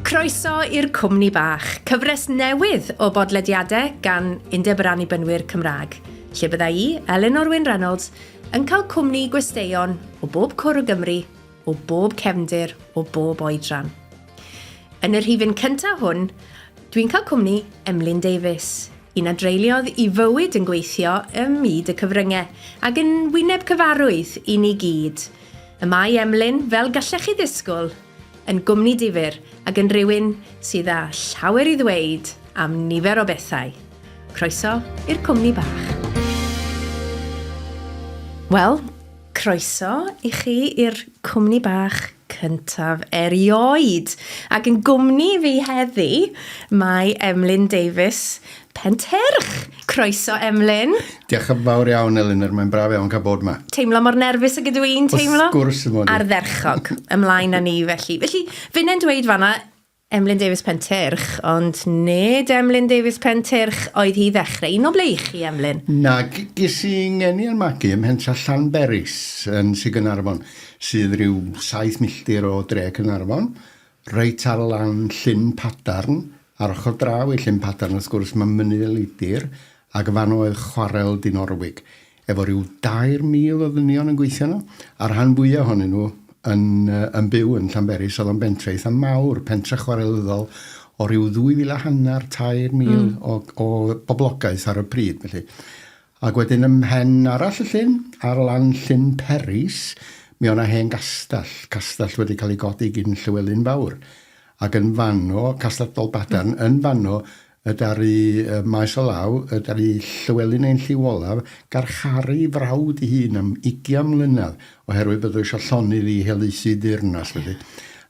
Croeso i'r Cwmni Bach, cyfres newydd o bodlediadau gan Undeb yr Annibynwyr Cymraeg, lle bydda i, Elinor Wyn Reynolds, yn cael cwmni gwesteion o bob cwr o Gymru, o bob cefndir, o bob oedran. Yn y rhifyn cyntaf hwn, dwi'n cael cwmni Emlyn Davies, Un a dreuliodd i fywyd yn gweithio ym myd y cyfrynge, ag yn wyneb cyfarwydd i ni gyd. Y mae Emlyn, fel gallech chi ddisgwl, yn gwmni difyr ac yn rywun sydd â llawer i ddweud am nifer o bethau. Croeso i'r cwmni bach. Wel, croeso i chi i'r cwmni bach. cyntaf erioed. Ac yn gwmni fi heddi, mae Emlyn Davies, Penterch. Croeso, Emlyn. Diolch yn fawr iawn, Elinor. Mae'n braf iawn cael bod yma. Teimlo mor nerfus ag ydw i'n teimlo? Wrth gwrs, dim ond. Ardderchog. Ymlaen â ni, felly. Felly, finnau'n dweud fanna, Emlyn Davies Pentyrch, ond nid Emlyn Davies Pentyrch oedd hi i ddechrau. Un o ble i chi, Emlyn? Nag ges i ngeni yn magu ym Mhentre Llanberis yn Sir Gaernarfon, sydd ryw saith milltir o dre Caernarfon, reit ar lan Llyn Padarn. Ar ochr draw i Llyn Padarn, wrth gwrs, mae Mynydd y Leidr, ac y fan oedd chwarel Dinorwig. efo rhyw 2,000 o ddynion yn gweithio yno, a'r rhan fwyaf ohonyn nhw yn, yn byw yn Llanberis, oedd o'n bentre eitha mawr, pentre chwarelyddol o ryw ddwy fil a hanner, tair mil mm. o, o boblogaeth ar y pryd, felly. Ac wedyn ym mhen arall y llyn, ar lan llyn Peris, mi o'na hen gastell, castell wedi cael ei godi gyn Llywelyn Fawr. Ac yn fanno, castell Dolbadarn, yn fanno, Y ddaru Maes o Law, y ddaru Llywelyn ein lliw olaf, garcharu ei frawd ei hun am ugian mlynedd oherwydd bod o eisiau llonydd i helaethu deyrnas, felly.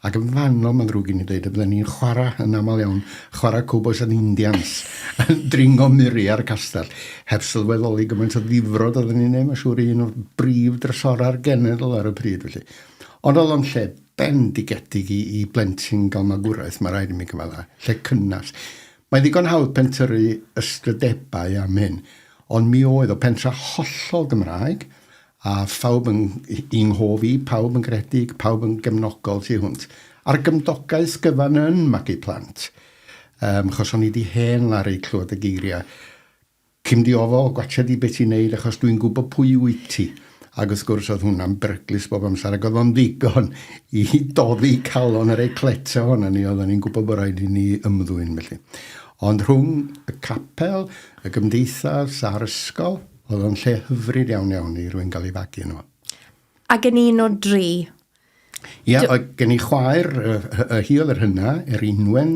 Ac yn fanno, mae'n ddrwg i ni ddeud, y bydden ni'n chwarae, yn aml iawn, chwarae cowbois and indians, yn dringo miri ar y castell, heb sylweddoli gymaint o ddifrod oedden ni'n ei wneud, mae'n siŵr, i un o'r brif drysorau'r genedl ar y pryd, felly. Ond oedd o'n lle bendigedig i blentyn gael magwraeth, mae rhaid i mi gyfadda, lle cynnes. Mae ddigon hawdd pentyrru ystrydebau am hyn, ond mi oedd o pentra hollol Gymraeg, a phawb yn i nghof i, pawb yn gredig, pawb yn gefnogol tu hwnt, a'r gymdogaeth gyfan yn magu plant. Um, chos o'n i di hen laru clywed y geiriau Cyn di ofal, gwatsia di be ti'n neud achos dwi'n gwybod pwy wyt ti. Ac wrth gwrs oedd hwnna'n beryglus bob amser ac oedd o'n ddigon i doddi calon yr eclets ohonon ni, oedden ni'n gwybod bod rhaid i ni ymddwyn felly. Ond rhwng y capel, y gymdeithas a'r ysgol, oedd o'n lle hyfryd iawn iawn i rywun gael ei fagu yno fo. Ac yn un o dri. Ia, oedd gen i chwaer, y hi oedd yr hynna, er unwen.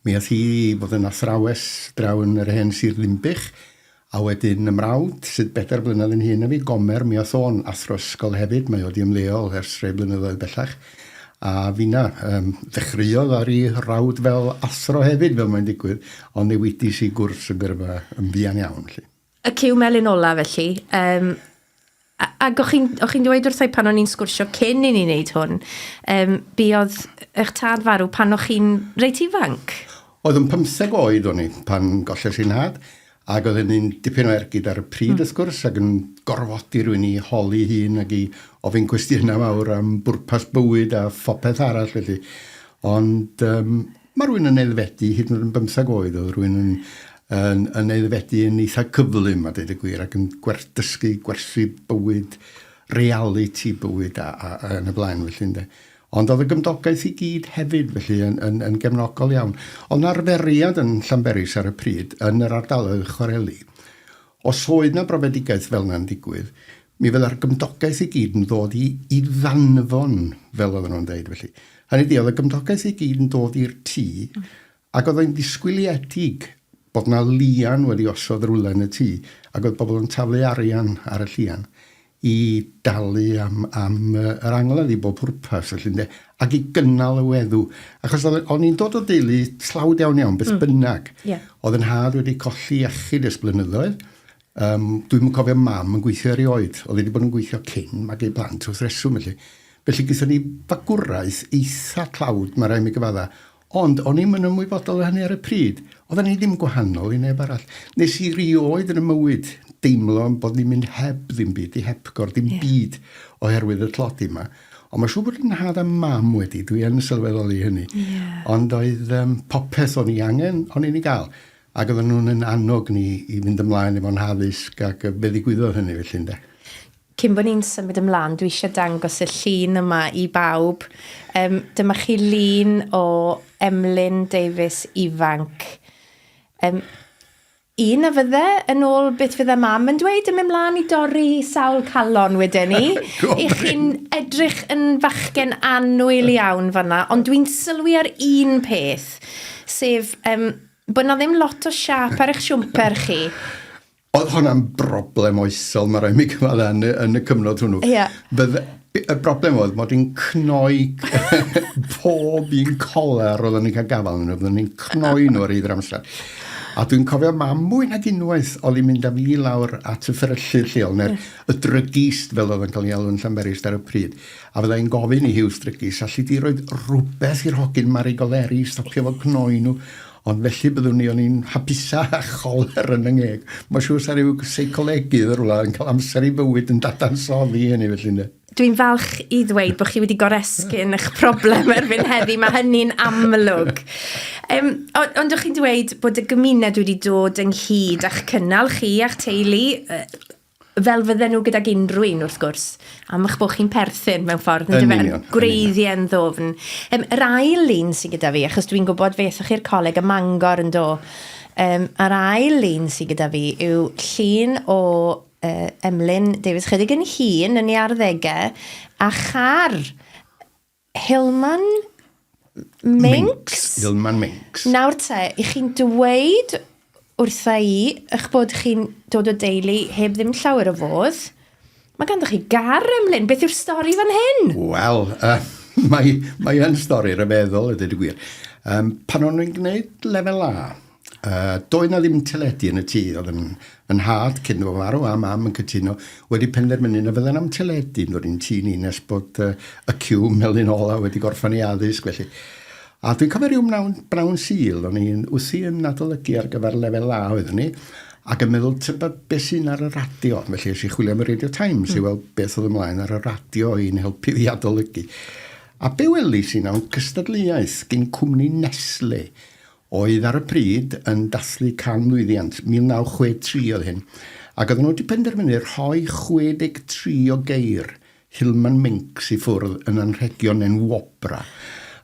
Mi oedd hi fod yn athrawes draw yn yr hen Sir Ddinbych. A wedyn y mrawd, sydd bedair blynedd yn hyn a fi, Gomer, mi oedd o'n athro ysgol hefyd. Mae oedd i ymddeol ers rhai blynyddoedd bellach. A finna, um, ddechreuodd ar ei rawd fel athro hefyd, fel mae'n digwydd, ond newidis i gwrs y gyrfa yn fuan iawn. Lly. Y cyw melyn ola felly, um, ac o'ch chi'n chi dweud wrthau pan o'n i'n sgwrsio cyn i ni wneud hwn, um, buodd eich tad farw pan o'ch chi'n reit ifanc? Oedd yn 15 oed o'n i pan golles i'n nhad, ac oedd hynny'n dipyn o ergyd ar y pryd mm. wrth gwrs, ac yn gorfodi rwy'n i holi hun ac i ofyn cwestiynau mawr am bwrpas bywyd a phopeth arall felly. Ond um, Mae rhywun yn aeddfedu, hyd yn oed yn bymtheg oed, oedd rhywun yn, yn, yn aeddfedu yn eitha cyflym, a dweud y gwir, ac yn gwer, dysgu gwerthu bywyd, reality bywyd, a, a, a yn y blaen, felly, ynde. Ond oedd y gymdogaeth i gyd hefyd, felly, yn, yn, yn gefnogol iawn. Oedd yna arferiad yn Llanberis ar y pryd, yn yr ardaloedd chwareli, Os oedd 'na brofedigaeth fel 'na'n digwydd, mi fydda'r gymdogaeth i gyd yn ddod i i ddanfon, fel oedden nhw'n deud felly. Hynny ydi, oedd y gymdogaeth i gyd yn dod i'r tŷ, ac oedd o'n ddisgwyliedig bod 'na lian wedi osod rywle yn y tŷ, ac oedd pobl yn taflu arian ar y llian. i dalu am am yr angladd i bob pwrpas felly ynde, ac i gynnal y weddw. Achos oedd o'n i'n dod o deulu tlawd iawn iawn, beth mm. bynnag. Yeah. Oedd yn had wedi colli iechyd ers blynyddoedd. Um, dwi'n yn cofio mam yn gweithio erioed. Oedd wedi bod yn gweithio cyn mae ei blant wrth reswm felly. Felly gyda ni fagwraeth eitha tlawd, mae rhaid mi gyfadda, Ond o'n i'm yn ymwybodol o hynny ar y pryd. Oedden ni ddim gwahanol i neb arall. Nes i rioed yn y mywyd deimlo yn bod ni'n mynd heb ddim byd, i hepgor, dim yeah. byd oherwydd y tlodi yma. Ond mae siŵr bod yn nhad a mam wedi, dwi yn sylweddoli hynny. Yeah. Ond oedd um, popeth o'n i angen, o'n i'n ei gael. Ac oedden nhw'n yn annog ni i fynd ymlaen efo'n haddysg ac fe ddigwyddodd hynny felly, ynde. Cyn bo ni'n symud ymlan, dwi eisiau dangos y llun yma i bawb. Yym, dyma chi lun o Emlyn Davies ifanc. Yym, un a fydde, yn ôl beth fydde mam yn dweud, yn mynd mlaen i dorri sawl calon wedyn ni. I chi'n edrych yn fachgen annwyl iawn fanna, ond dwi'n sylwi ar un peth, sef um, bod na ddim lot o siap ar eich siwmper chi. Oedd hwnna'n broblem oesol, mae rhaid mi gyfadda, yn, yn y cyfnod hwnnw. Yeah. Bydd, y broblem oedd bod yn cnoi pob un coler roeddwn ni'n cael gafael yn roeddwn ni'n cnoi nhw ar eidr amser. A dwi'n cofio mam mwy nag unwaith oedd hi'n mynd â fi lawr at y fferyllydd lleol, neu'r mm. y drygist fel oedd yn cael ei alw'n Llanberis ar y pryd. A fyddai'n gofyn i hiws drygis, allu di roed rhywbeth i'r hogyn Mari Goleri i stopio fod cnoi nhw. Ond felly byddwn i o'n i'n hapusa a choler yn y ngeg. Mae'n siŵr sa rhyw seicolegydd yn rhywle yn cael amser i fywyd yn dadansoddi hynny felly ynddo. Dwi'n falch i ddweud bod chi wedi goresgyn eich problem erbyn heddi, mae hynny'n amlwg. Um, ond o'ch chi'n dweud bod y gymuned wedi dod ynghyd a'ch cynnal chi a'ch teulu fel fydden nhw gydag unrhyw un, wrth gwrs, am eich bod chi'n perthyn mewn ffordd, yn dyfa, yn gwreiddiau yn ddofn. Um, yr ail lun sy'n gyda fi, achos dwi'n gwybod fe eithwch chi'r coleg y mangor yn do, um, yr ail lun sy'n gyda fi yw llun o uh, Emlyn Davies chydig yn hun yn ei arddegau, a char Hilman Minks. Hilman Minks. Nawr te, i chi'n dweud wrtha i eich bod chi'n dod o deulu heb ddim llawer o fodd, mae ganddo chi gar emlyn. Beth yw'r stori fan hyn? Wel, uh, mae, mae yn stori rhyfeddol, y dweud y gwir. Um, pan o'n i'n gwneud lefel A, Uh, doedd na ddim teledu yn y tŷ, oedd yn, yn nhad cyn o farw a mam yn cytuno wedi penderfynu na fydden am teledu yn dod i'n tŷ ni nes bod uh, y cyw melyn ola wedi gorffan ei addysg felly. A dwi'n cofio rhyw mnawn, brawn sil, o'n i'n wthi yn adolygu ar gyfer lefel A oeddwn ni, ac yn meddwl tyba beth sy'n ar y radio, felly eisiau chwilio am y Radio Times mm. i weld beth oedd ymlaen ar y radio i'n helpu fi adolygu. A be welis i nawn cystadleuaeth gyn cwmni Nestle oedd ar y pryd yn dathlu canmlwyddiant, 1963 oedd hyn, ac oedden nhw wedi penderfynu rhoi 63 o geir Hillman Minks i ffwrdd yn anrhegion enw Wobra,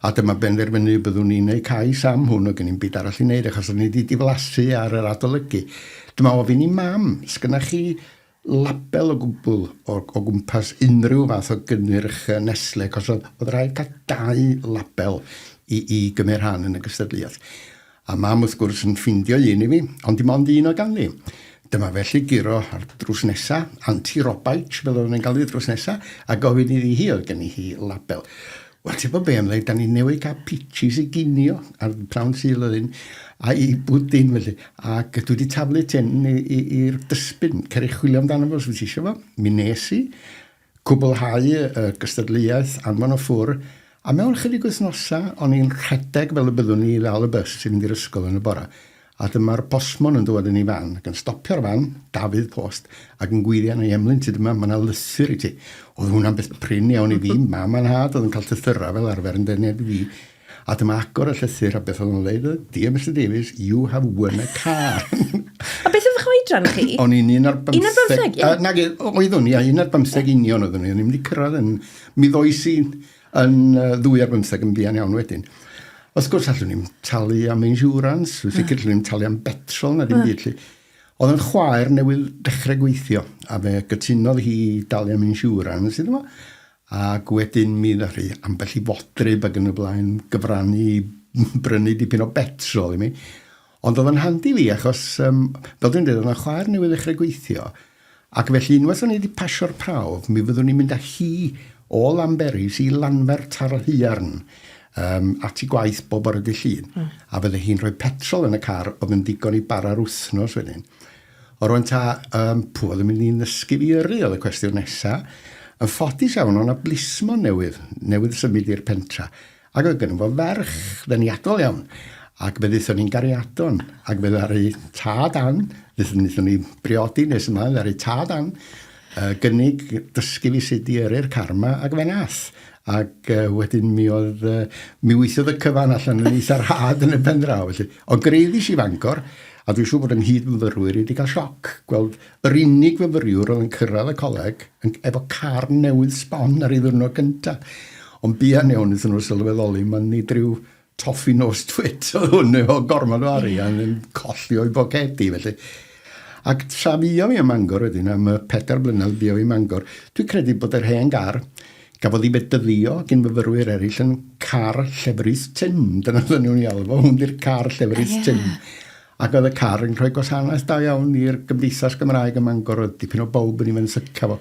a dyma benderfynu y byddwn ni'n eu cais am hwn, oedd gen i'm byd arall i wneud achos o'n i 'di diflasu ar yr adolygu. Dyma ofyn i Mam, 'sgynna chi label o gwbl o o gwmpas unrhyw fath o gynnyrch yy Nestlé, achos o'dd o'dd raid ca'l dau label i i gymyd rhan yn y gystadleuaeth. A mam wrth gwrs yn ffindio un i fi, ond dim ond un oedd ganddi. Dyma fe 'lly guro ar drws nesa, anti-robite fel oedden ni'n galw 'i drws nesa, a gofyn iddi hi oedd genni hi label. Wel, ti'n gwybod be, am ddeud, da ni newydd cael peaches i ginio ar prawn syl oedd hyn, a i bwdin felly. Ac dwi wedi taflu ten i'r dysbyn, cer i chwilio amdano fo os wyt ti eisiau fo. Mi nes i, cwblhau y gystadleuaeth anfon o ffwr, a mewn chydig wythnosau o'n i'n rhedeg fel y byddwn i i ddal y bus i fynd i'r ysgol yn y bora. A dyma'r postmon yn dŵad yn ei fan, ac yn stopio'r fan, Dafydd Post, ac yn gwirio arna i, Emlyn, tyd yma, mae 'na lysur i ti. Oedd hwnna'n beth prin iawn i fi, mam a nhad oedd yn cael llythyrau fel arfer yn denu at fi. A dyma agor y llythyr, a beth oedd o'n ddeud oedd, Dear Mister Davies, you have won a car. A beth oedd eich oedran chi? O'n i'n un ar bymtheg. Un ar bymtheg, ie. Nage, oeddwn i, a un ar bymtheg union oeddwn i. O'n i'n mynd i cyrraedd yn... Mi ddoes i Yn yy ddwy ar bymtheg yn fuan iawn wedyn. Wrth gwrs allwn ni'm talu am insurance, dwi'n sicr allwn ni'm talu am betrol na dim byd 'lly. O'dd 'yn chwaer newydd dechre gweithio a fe gytunodd hi i dalu am insurance iddo fo ac wedyn mi ddath 'i ambell i fodryb ag yn y blaen gyfrannu i brynu dipyn o betrol i mi. Ond o'dd o'n handi fi achos yym fel dwi'n deud o'dd 'na chwaer newydd ddechre gweithio Ac felly unwaith o'n i 'di pasio'r prawf, mi fyddwn i'n mynd â hi o Lanberis i Lanfert ar yr haearn um, at i gwaith bob bore dy Llun. Mm. A fydde hi'n rhoi petrol yn y car oedd yn ddigon i bara'r wythnos wedyn. O rwan ta, um, pw oedd yn mynd i'n ddysgu fi yrru oedd y cwestiwn nesaf. Yn ffodus iawn, o'na blismon newydd, newydd symud i'r pentra. Ac oedd gennym fo ferch ddeniadol iawn, ac fe ddaethon ni'n gariadon, ac fe ddaru tad Ann, ddaethon wnaethon ni briodi nes yma, ddaru tad Ann uh, gynnig dysgu fi sut i yrru'r car yma, ac fe nath. Ac uh, wedyn mi oedd, uh, mi weithiodd y cyfan allan yn eitha rhad yn y pen draw, felly. Ond greiddis i Fangor, a dwi'n siŵr bod ynghyd myfyrwyr wedi cael sioc gweld Yr unig fyfyriwr oedd yn cyrraedd y coleg efo car newydd sbon ar ei ddiwrnod gyntaf. Ond buan iawn wnaethon nhw sylweddoli ma' nid rhyw toffi nos twit oedd hwn efo gormod o arian yn colli o'i bocedi felly. Ac tra fuodd hi ym Mangor wedyn am y pedair blynedd buodd hi ym Mangor, dwi'n credu bod yr hen gar gafodd ei fedyddio gin fyfyrwyr eraill yn car llefrith Tim. Dyna oedden nhw'n ei alw fo, hwn 'di'r car llefrith Tim. Ac oedd y car yn rhoi gwasanaeth da iawn i'r Gymdeithas Gymraeg ym Mangor, oedd dipyn o bawb yn ei fenthyca fo,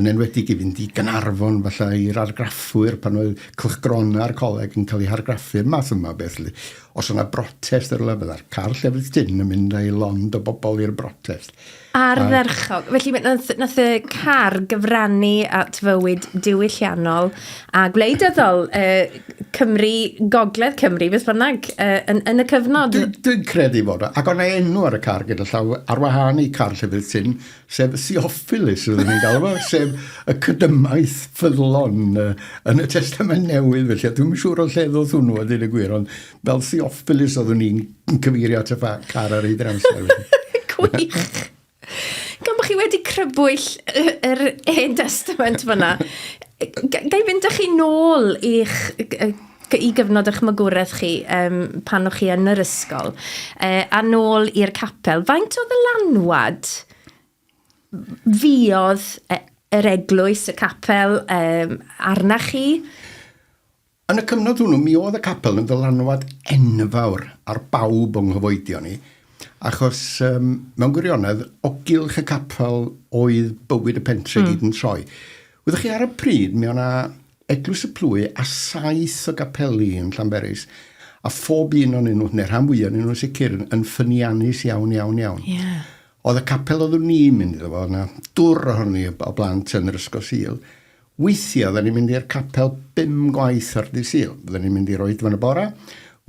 yn enwedig i fynd i Gaernarfon, falle i'r argraffwyr, pan oedd cylchgronau a'r coleg yn cael eu hargraffu, y math yma o beth 'lly. Os oedd 'na brotest yn rywle, fydda'r car llefrith tin yn mynd â'i lond o bobl i'r brotest. Ardderchog. Felly, nath y car gyfrannu at fywyd diwylliannol a gwleidyddol uh, Cymru, Gogledd Cymru, beth bynnag, uh, yn, yn y cyfnod. Dwi'n dwi credu bod o. Ac o'n enw ar y car gyda llaw ar wahân i car llefydd tyn, sef Siophilus, rydyn ni'n galw fo, sef y cydymaeth ffyddlon uh, yn y Testament Newydd, felly dwi'n siŵr o lle ddoth hwnnw a dyn y gwir, ond Fel Theophilus oeddwn i'n cyfeirio at y fa- car ar ei dramser. Gwych! Gan bod chi wedi crybwyll yr hen testament fyna, gai fynd â chi nôl i'ch i gyfnod eich magwraeth chi um, pan o'ch chi yn yr ysgol, uh, a nôl i'r capel. Faint o ddylanwad fiodd e, yr eglwys, y capel, um, arna chi? Yn y cyfnod hwnnw, mi oedd y capel yn ddylanwad enfawr ar bawb o'n nghyfoedion ni, achos um, mewn gwirionedd, o gylch y capel oedd bywyd y pentre mm. gyd yn troi. Wyddoch chi, ar y pryd, mi o'na Eglwys y Plwy a saith o gapeli yn Llanberis, a phob un o'n nhw, neu rhan fwyaf o'n nhw sicr, yn ffyniannus iawn, iawn, iawn. Yeah. Oedd y capel oeddwn ni'n mynd iddo fo, oedd yna dwr ohoni o blant yn yr Ysgol Sil, Weithiau fydden ni'n mynd i'r capel bum gwaith ar ddydd Sul. Fydden ni'n mynd i'r oedfa yn y bore,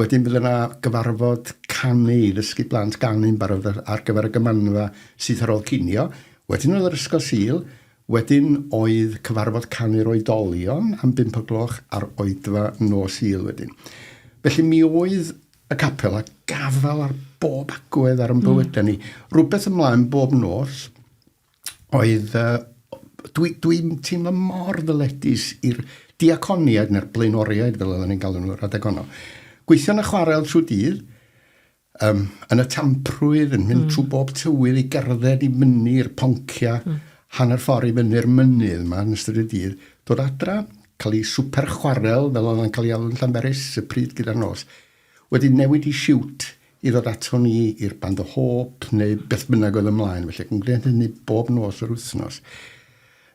wedyn bydd yna gyfarfod canu i ddysgu plant ganu yn barod ar gyfer y gymanfa syth ar ôl cinio, wedyn oedd yr ysgol Sul, wedyn oedd cyfarfod canu'r oedolion am bump o gloch a'r oedfa nos Sul wedyn. Felly mi oedd y capel a gafael ar bob agwedd ar yn bywydau ni. Rhywbeth ymlaen bob nos. oedd, uh, dwi'n dwi, dwi teimlo mor ddyledus i'r diaconiaid neu'r blaenoriaid, fel oedden ni'n galw nhw, rhedeg honno. Gweithio'n y chwarel trwy dydd, um, yn y tamprwydd, yn mynd mm. trwy bob tywydd i gerdded i fyny'r poncia, mm. hanner ffordd i fyny'r mynydd yma yn ystod y dydd, dod adra, cael ei swper chwarel, fel oedd yn cael ei alw'n Llanberis, y pryd gyda'r nos, wedi newid i siwt i ddod ato ni i'r band o hôp neu beth bynnag oedd ymlaen, felly ac yn gwneud hynny bob nos yr wythnos.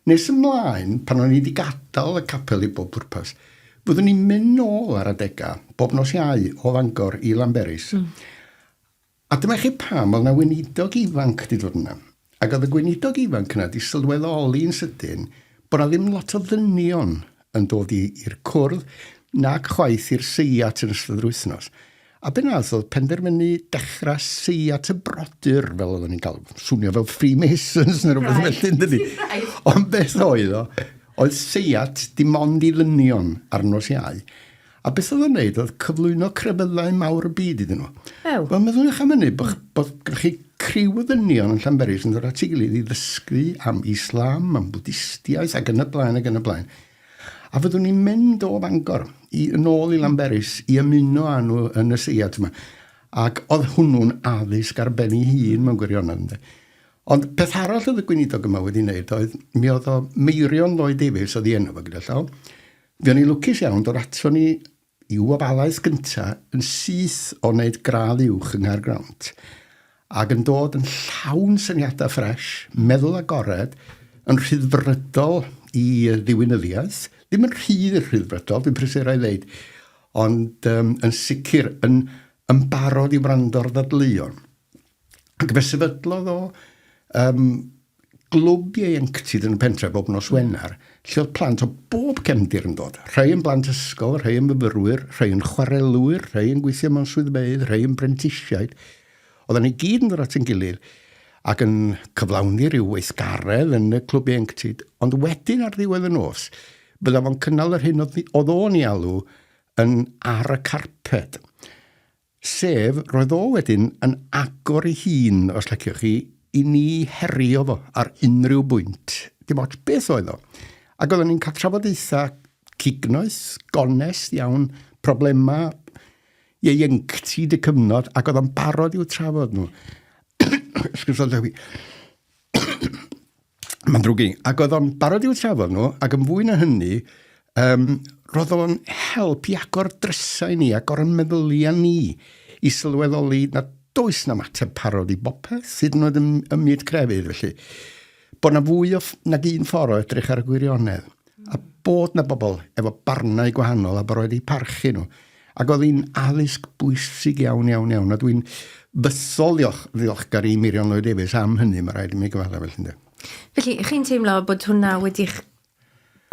Nes ymlaen, pan o'n i wedi gadael y capel i bob pwrpas, fyddwn i'n mynd nôl ar adegau, bob nos Iau, o Fangor i Lanberis. Mm. A dyma chi pam oedd 'na weinidog ifanc 'di dod yna. Ac oedd y gweinidog ifanc yna 'di sylweddoli yn sydyn bod 'na ddim lot o ddynion yn dod i i'r cwrdd nac chwaith i'r seiat yn ystod yr wythnos. A be nath oedd penderfynu dechra seiat y brodyr fel oedden ni'n galw fo. Swnio fel Freemasons neu rywbeth right. felly yndydi? Right. Ond beth oedd o? Oedd seiat dim ond i ddynion ar nos Iau. A beth oedd o'n wneud? Oedd cyflwyno crefyddau mawr y byd iddyn nhw. Ew. Wel, meddwch am hynny, bod, bod gyda chi criw o ddynion yn Llanberis yn dod at ei gilydd i ddysgu am Islam, am Bwdistiaeth ac yn y blaen ac yn y blaen. A fyddwn ni'n mynd o Fangor i, yn ôl i Lanberis i ymuno â nhw yn y seiad yma. Ac oedd hwnnw'n addysg ar ben ei hun mewn gwirionedd. Ynde? Ond peth arall oedd y gweinidog yma wedi wneud oedd, mi oedd o Meirion Lloyd Davies oedd ei enw fo gyda llaw, Fuon ni lwcus iawn, dod aton ni i'w wobalaeth gynta yn syth o wneud gradd uwch yng Nghaergrawnt, ac yn dod yn llawn syniadau ffresh, meddwl agored, yn rhyddfrydol i ddiwinyddiaeth, ddim yn rhy rhyddfrydol, dwi'n prysur a'i ddeud, ond um, yn sicr yn, yn barod i wrando'r ddadleuon. Ac fe sefydlodd o um, glwb ieuenctid yn y pentref bob nos Wener, lle oedd plant o bob cefndir yn dod. Rhai yn blant ysgol, rhai yn myfyrwyr, rhai yn chwarelwyr, rhai yn gweithio mewn swyddfeydd, rhai yn brentisiaid. Oedden ni gyd yn dod at yn gilydd ac yn cyflawni rhyw weithgaredd yn y clwb ieuenctid, ond wedyn ar ddiwedd y nos, bydda fo'n cynnal yr hyn oedd o'n i alw yn ar y carped. Sef, roedd o wedyn yn agor ei hun, os liciwch chi, i ni herio fo ar unrhyw bwynt, dim ots beth oedd o. Ac oedden ni'n cael trafodaethau cignoeth, gonest iawn, problemau ieuenctid y cyfnod, ac oedd o'n barod i'w trafod nhw. Excuse me, Mae'n ddrwg i. Ac oedd o'n barod i'w trafod nhw, ac yn fwy na hynny, um, roedd o'n help i agor drysau ni, agor y meddyliau ni, i sylweddoli na does na mater parod i bopeth, hyd yn oed ym, ym myd crefydd, felly. Bod na fwy o, nag un ffordd o edrych ar y gwirionedd, a bod na bobl efo barnau gwahanol a bod roedd eu parchu nhw. Ac oedd hi'n addysg bwysig iawn, iawn, iawn, a dwi'n bythol ddiolch, ddiolchgar i Mirion Lloyd Davies am hynny, mae rhaid i mi gyfadda felly, ynddo. Felly, chi'n teimlo bod hwnna wedi'ch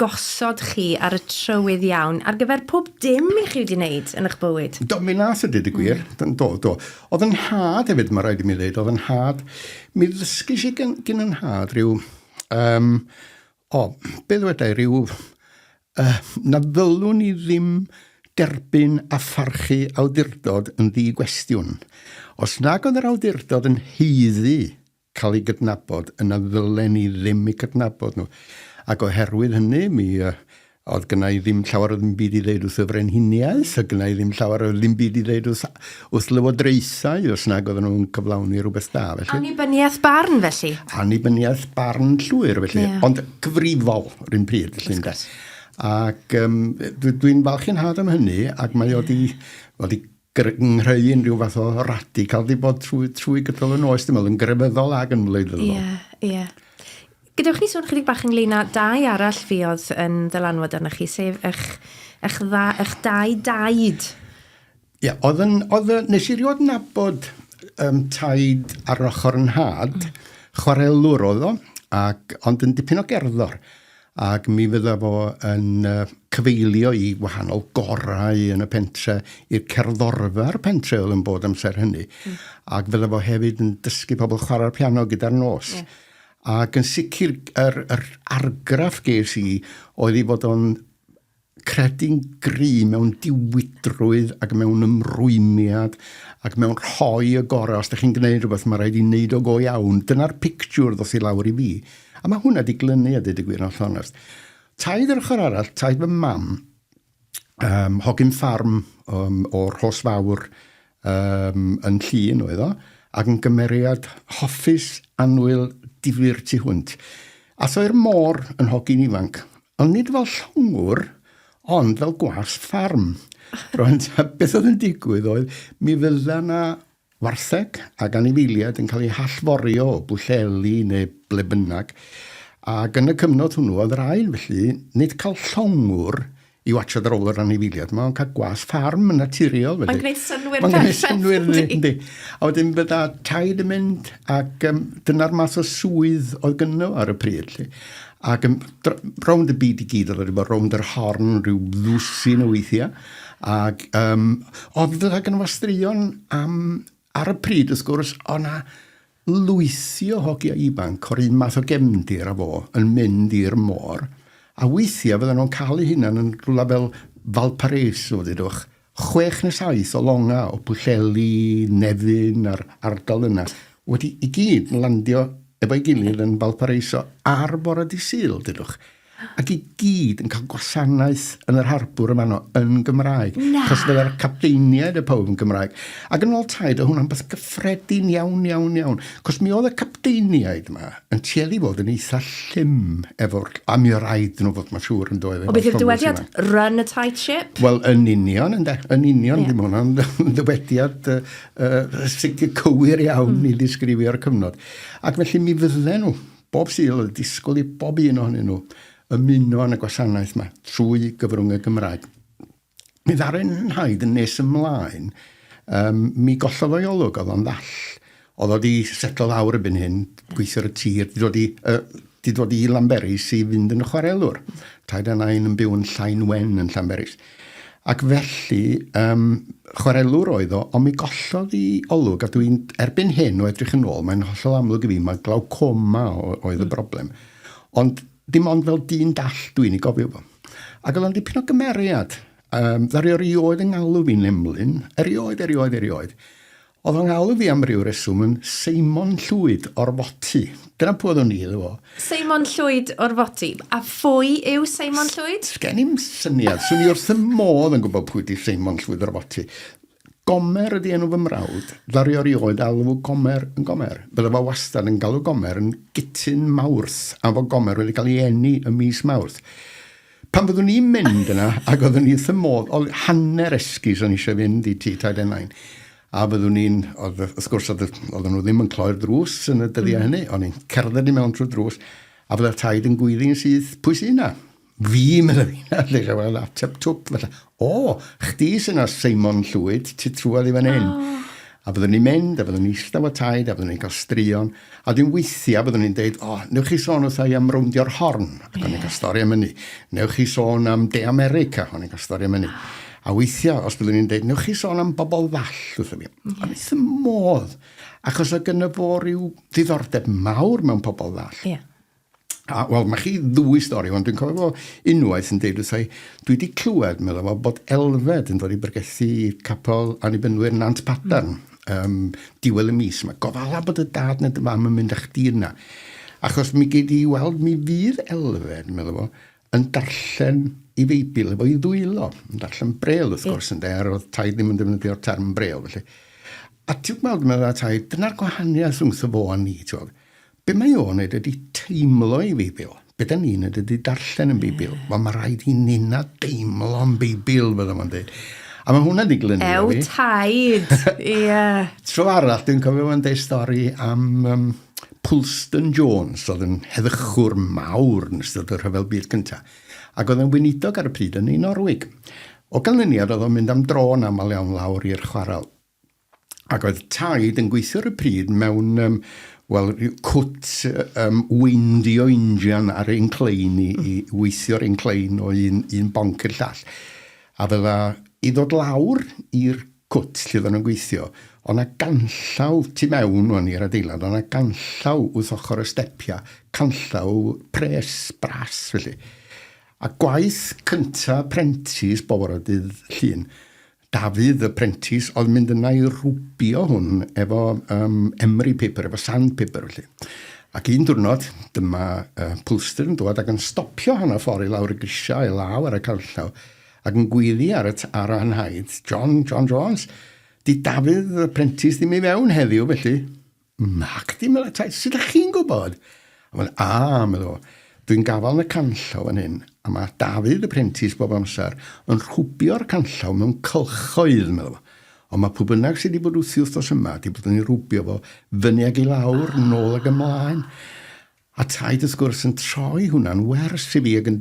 gosod chi ar y trywydd iawn ar gyfer pob dim i chi wedi wneud yn eich bywyd? Do, mi nath y dyd y gwir, mm. do, do. Oedd yn nhad hefyd, mae rhaid i mi ddeud, oedd yn nhad, mi ddysgis i gyn, gyn yn nhad rhyw um, O, be ddwedai ryw, uh, na ddylwn ni ddim derbyn a pharchu awdurdod yn ddi-gwestiwn. Os nag oedd yr awdurdod yn heiddi cael ei gydnabod, yna ddylen ni ddim eu cydnabod nhw. Ac oherwydd hynny, mi uh, oedd gyna i ddim llawer o ddim byd i ddeud wrth y frenhiniaeth, oedd gyna i ddim llawer o ddim byd i ddeud wrth, wrth lywodraethau, os nag oedden nhw'n cyflawni rhywbeth da. Felly. Annibyniaeth barn, felly? Annibyniaeth barn llwyr, felly. Yeah. Ond gyfrifol, rhywun pryd, felly, ynda. Ac um, dwi'n falch i'n had am hynny, ac mae yeah. o di, o di grynhau unrhyw fath o radical di bod trwy, trwy gydol y nos, dim ond yn grefyddol ac yn wleidyddol. Ie, yeah, ie. Yeah. Gadewch ni sôn chydig bach ynglyn â dau arall fi oedd yn ddylanwad arna chi, sef eich, eich, dda, eich dau daid. Ie, yeah, oedd yn, oedd, nes i rioed nabod um, taid ar ochr yn had, mm. chwarelwr oedd o, ac, ond yn dipyn o gerddor. ac mi fydda fo yn cyfeilio i wahanol gorau yn y pentre, i'r cerddorfa'r pentre oedd yn bod amser hynny, mm. ac fydda fo hefyd yn dysgu pobl chwarae'r piano gyda'r nos. Yeah. Ac yn sicr, yr, yr argraff ges i oedd i fod o'n Credu'n gryf mewn diwydrwydd ac mewn ymrwymiad ac mewn rhoi y gorau. Os da chi'n gwneud rhywbeth, mae rhaid i wneud o go iawn. Dyna'r pictiwr ddoth i lawr i fi. A mae hwnna di glynu a dweud y gwir yn llonest. Taid yr ochr arall, taid fy mam, um, hogyn ffarm um, o'r hos fawr, um, yn llun oedd o, ac yn gymeriad hoffus anwyl difyr tu hwnt. Athoi'r môr yn hogyn ifanc, ond nid fel llongwr, ond fel gwas ffarm. Roedd beth oedd yn digwydd oedd, mi fydda na wartheg ac anifeiliaid yn cael eu hallforio o bwlleli neu ble bynnag, ac yn y cyfnod hwnnw oedd yr ail felly, nid cael llongwr i watsio ar ôl yr anifiliad yma, ond cael gwas ffarm yn naturiol. Mae'n gwneud synwyr Mae'n gwneud synwyr, yndi. A wedyn bydda taid yn mynd, ac um, dyna'r math o swydd oedd gynno ar y pryd. Lle. Ac um, rownd y byd i gyd, oedd wedi bod rownd yr horn rhyw ddwsin o weithiau. Ac um, oedd fydda gynno fo straeon am, ar y pryd, wrth gwrs, o'na Lwythio hogia ifanc o'r un math o gefndir a fo yn mynd i'r môr, a weithiau fyddan nhw'n cael eu hunain yn rhywle fel Valparaiso, ddudwch, chwech neu saith o longau o Pwllheli, Nefyn a'r ardal yna, wedi i gyd landio efo'i gilydd yn Valparaiso ar fore Dydd Sul, ddudwch. ac i gyd yn cael gwasanaeth yn yr harbwr yma no, yn Gymraeg. Na! Cos fydda'r capteiniaid y pawb yn Gymraeg. Ac yn ôl taid, o hwnna'n beth gyffredin iawn, iawn, iawn. Cos mi oedd y capteiniaid yma yn tueddu fod yn eitha llym efo'r... A mi oedd rhaid nhw fod, mae'n siŵr, yn doedd. O beth yw'r dywediad? Run a tight ship? Wel, yn union, ynde. Yn union, yeah. ddim hwnna'n ddywediad uh, uh, sicr cywir iawn mm. i ddisgrifio'r cyfnod. Ac felly mi fydden nhw Bob Sul oedd disgwyl i bob un ohonyn nhw ymuno yn y gwasanaeth yma trwy gyfrwng y Gymraeg. Mi ddaru Hyde yn nes ymlaen, um, mi gollodd o'i olwg, oedd o'n ddall. Oedd o wedi setlo lawr y byn hyn, gweithio ar y tir, di dod i, uh, di dod i Lanberis i fynd yn y chwarelwr. Taid a nain yn byw yn Llain Wen yn Llanberis. Ac felly, um, chwarelwr oedd o, ond mi gollodd i olwg, a dwi'n erbyn hyn o edrych yn ôl, mae'n hollol amlwg i fi, mae glaucoma oedd y hmm. broblem. Ond dim ond fel dyn dall dwi'n ei gofio fo. Ac oedd o'n dipyn o gymeriad. Um, ddario rioed yng ngalw fi'n emlyn, erioed, erioed, erioed. Oedd fy nghawl fi am ryw reswm yn Seimon Llwyd o'r Foti. Dyna pw oeddwn i iddo fo. Seimon Llwyd o'r Foti. A phwy yw Seimon Llwyd? S gen i'm syniad. Swn i wrth fy modd yn gwybod pwy ydy Seimon Llwyd o'r Foti. Gomer ydy enw fy mrawd. Ddaru o rioed alw Gomer yn Gomer. Bydda fo wastad yn galw Gomer yn Gytun Mawrth am fo Gomer wedi cael ei eni ym mis Mawrth. Pan fyddwn i'n mynd yna, ac oeddwn i wrth y modd, o hanner esgus o'n eisiau fynd i ti taid enain. A fyddwn i'n, wrth gwrs, oedden nhw ddim yn cloi'r drws yn y dyddiau mm. hynny, o'n i'n cerdded i mewn trwy drws, a fydda'r taid yn gwyddi'n syth, pwy sy'n na? Fi, meddwl fi, na, lle gael ateb twp, felly, O! Chdi sy 'na Seimon Llwyd, ti trwodd i fan hyn. O! A fyddwn ni'n mynd, a fyddwn ni'n ista efo Taid, a fyddwn ni'n cael straeon, a wedyn weithiau byddwn ni'n deud, o, newch chi sôn wrtha i am rowndio'r Horn, ac yeah. o'n i'n cael stori am hynny. Newch chi sôn am De America, o'n i'n cael stori am hynny. Oh. A weithiau, os byddwn ni'n dweud, newch chi sôn am bobl ddall wrth mi. Yeah. Ond wrth y modd, achos o gyda fo rhyw ddiddordeb mawr mewn pobl ddall. Yeah. A, wel, mae chi ddwy stori, ond dwi'n cofio fo unwaith yn deud wrthai, dwi wedi clywed, meddwl fo, bod elfed yn dod i bregethu capel Annibynwyr Nant Padarn, mm. um, diwedd y mis. Mae gofala bod y dad neu dy fam yn mynd â chdi yna. Achos mi gei di weld, mi fydd elfed, meddwl fo, yn darllen i feibl efo i ddwylo, yn darllen brel, wrth gwrs, yn der, oedd tai ddim yn defnyddio'r term brel, felly. A ti'n gweld, meddwl tai, dyna'r gwahaniaeth rhwngtho fo a ni, ti'n gweld Be mae o'n neud ydi teimlo i Feibil. Be da ni'n neud ydi darllen yn Beibil. Wel, mae rhaid i ninna deimlo yn Beibil, fydda fo'n deud. A mae hwnna di glynu Ew, fi. taid! Ie. Tro arall, dwi'n cofio fo'n deud stori am um, Pulston Jones, oedd yn heddychwr mawr yn ystod y rhyfel byd cyntaf, ac oedd yn weinidog ar y pryd yn ei Norwig. O ganlyniad, oedd o'n mynd am dro yn aml iawn lawr i'r chwarel. ac oedd taid yn gweithio ar y pryd mewn um, wel, rhyw cwt um, weindio injan ar ein clein i, i weithio ar ein clein o un, un bonc i'r llall. A fydda i ddod lawr i'r cwt lle oedden nhw'n gweithio, ond a ganllaw tu mewn o'n i'r adeilad, ond a ganllaw wrth ochr y stepiau, canllaw pres, bras felly. A gwaith cyntaf prentis boforydydd llun, Dafydd y prentis oedd mynd yna i rwbio hwn efo um, emery paper, efo sandpaper felly. Ac un diwrnod, dyma uh, Pulster yn dod ac yn stopio hanner ffordd i lawr y grisiau, i law ar y canllaw, ac yn gwylio ar y ar anhaid, John, John Jones, di Dafydd y prentis ddim i fewn heddiw felly. Nacdi, meddai Taid, sut ydych chi'n gwybod? A fel, a, meddai o, dwi'n gafael yn y canllaw fan hyn, a mae Dafydd, y prentis, bob amser yn rhwbio'r canllaw mewn cylchoedd, meddai o. Ond mae pwy bynnag sydd wedi bod wrthi wythnos yma, wedi bod yn ei rhwbio fo fyny ag i lawr, nôl ag ymlaen. A taid wrth gwrs yn troi hwnna'n wers i fi ag yn...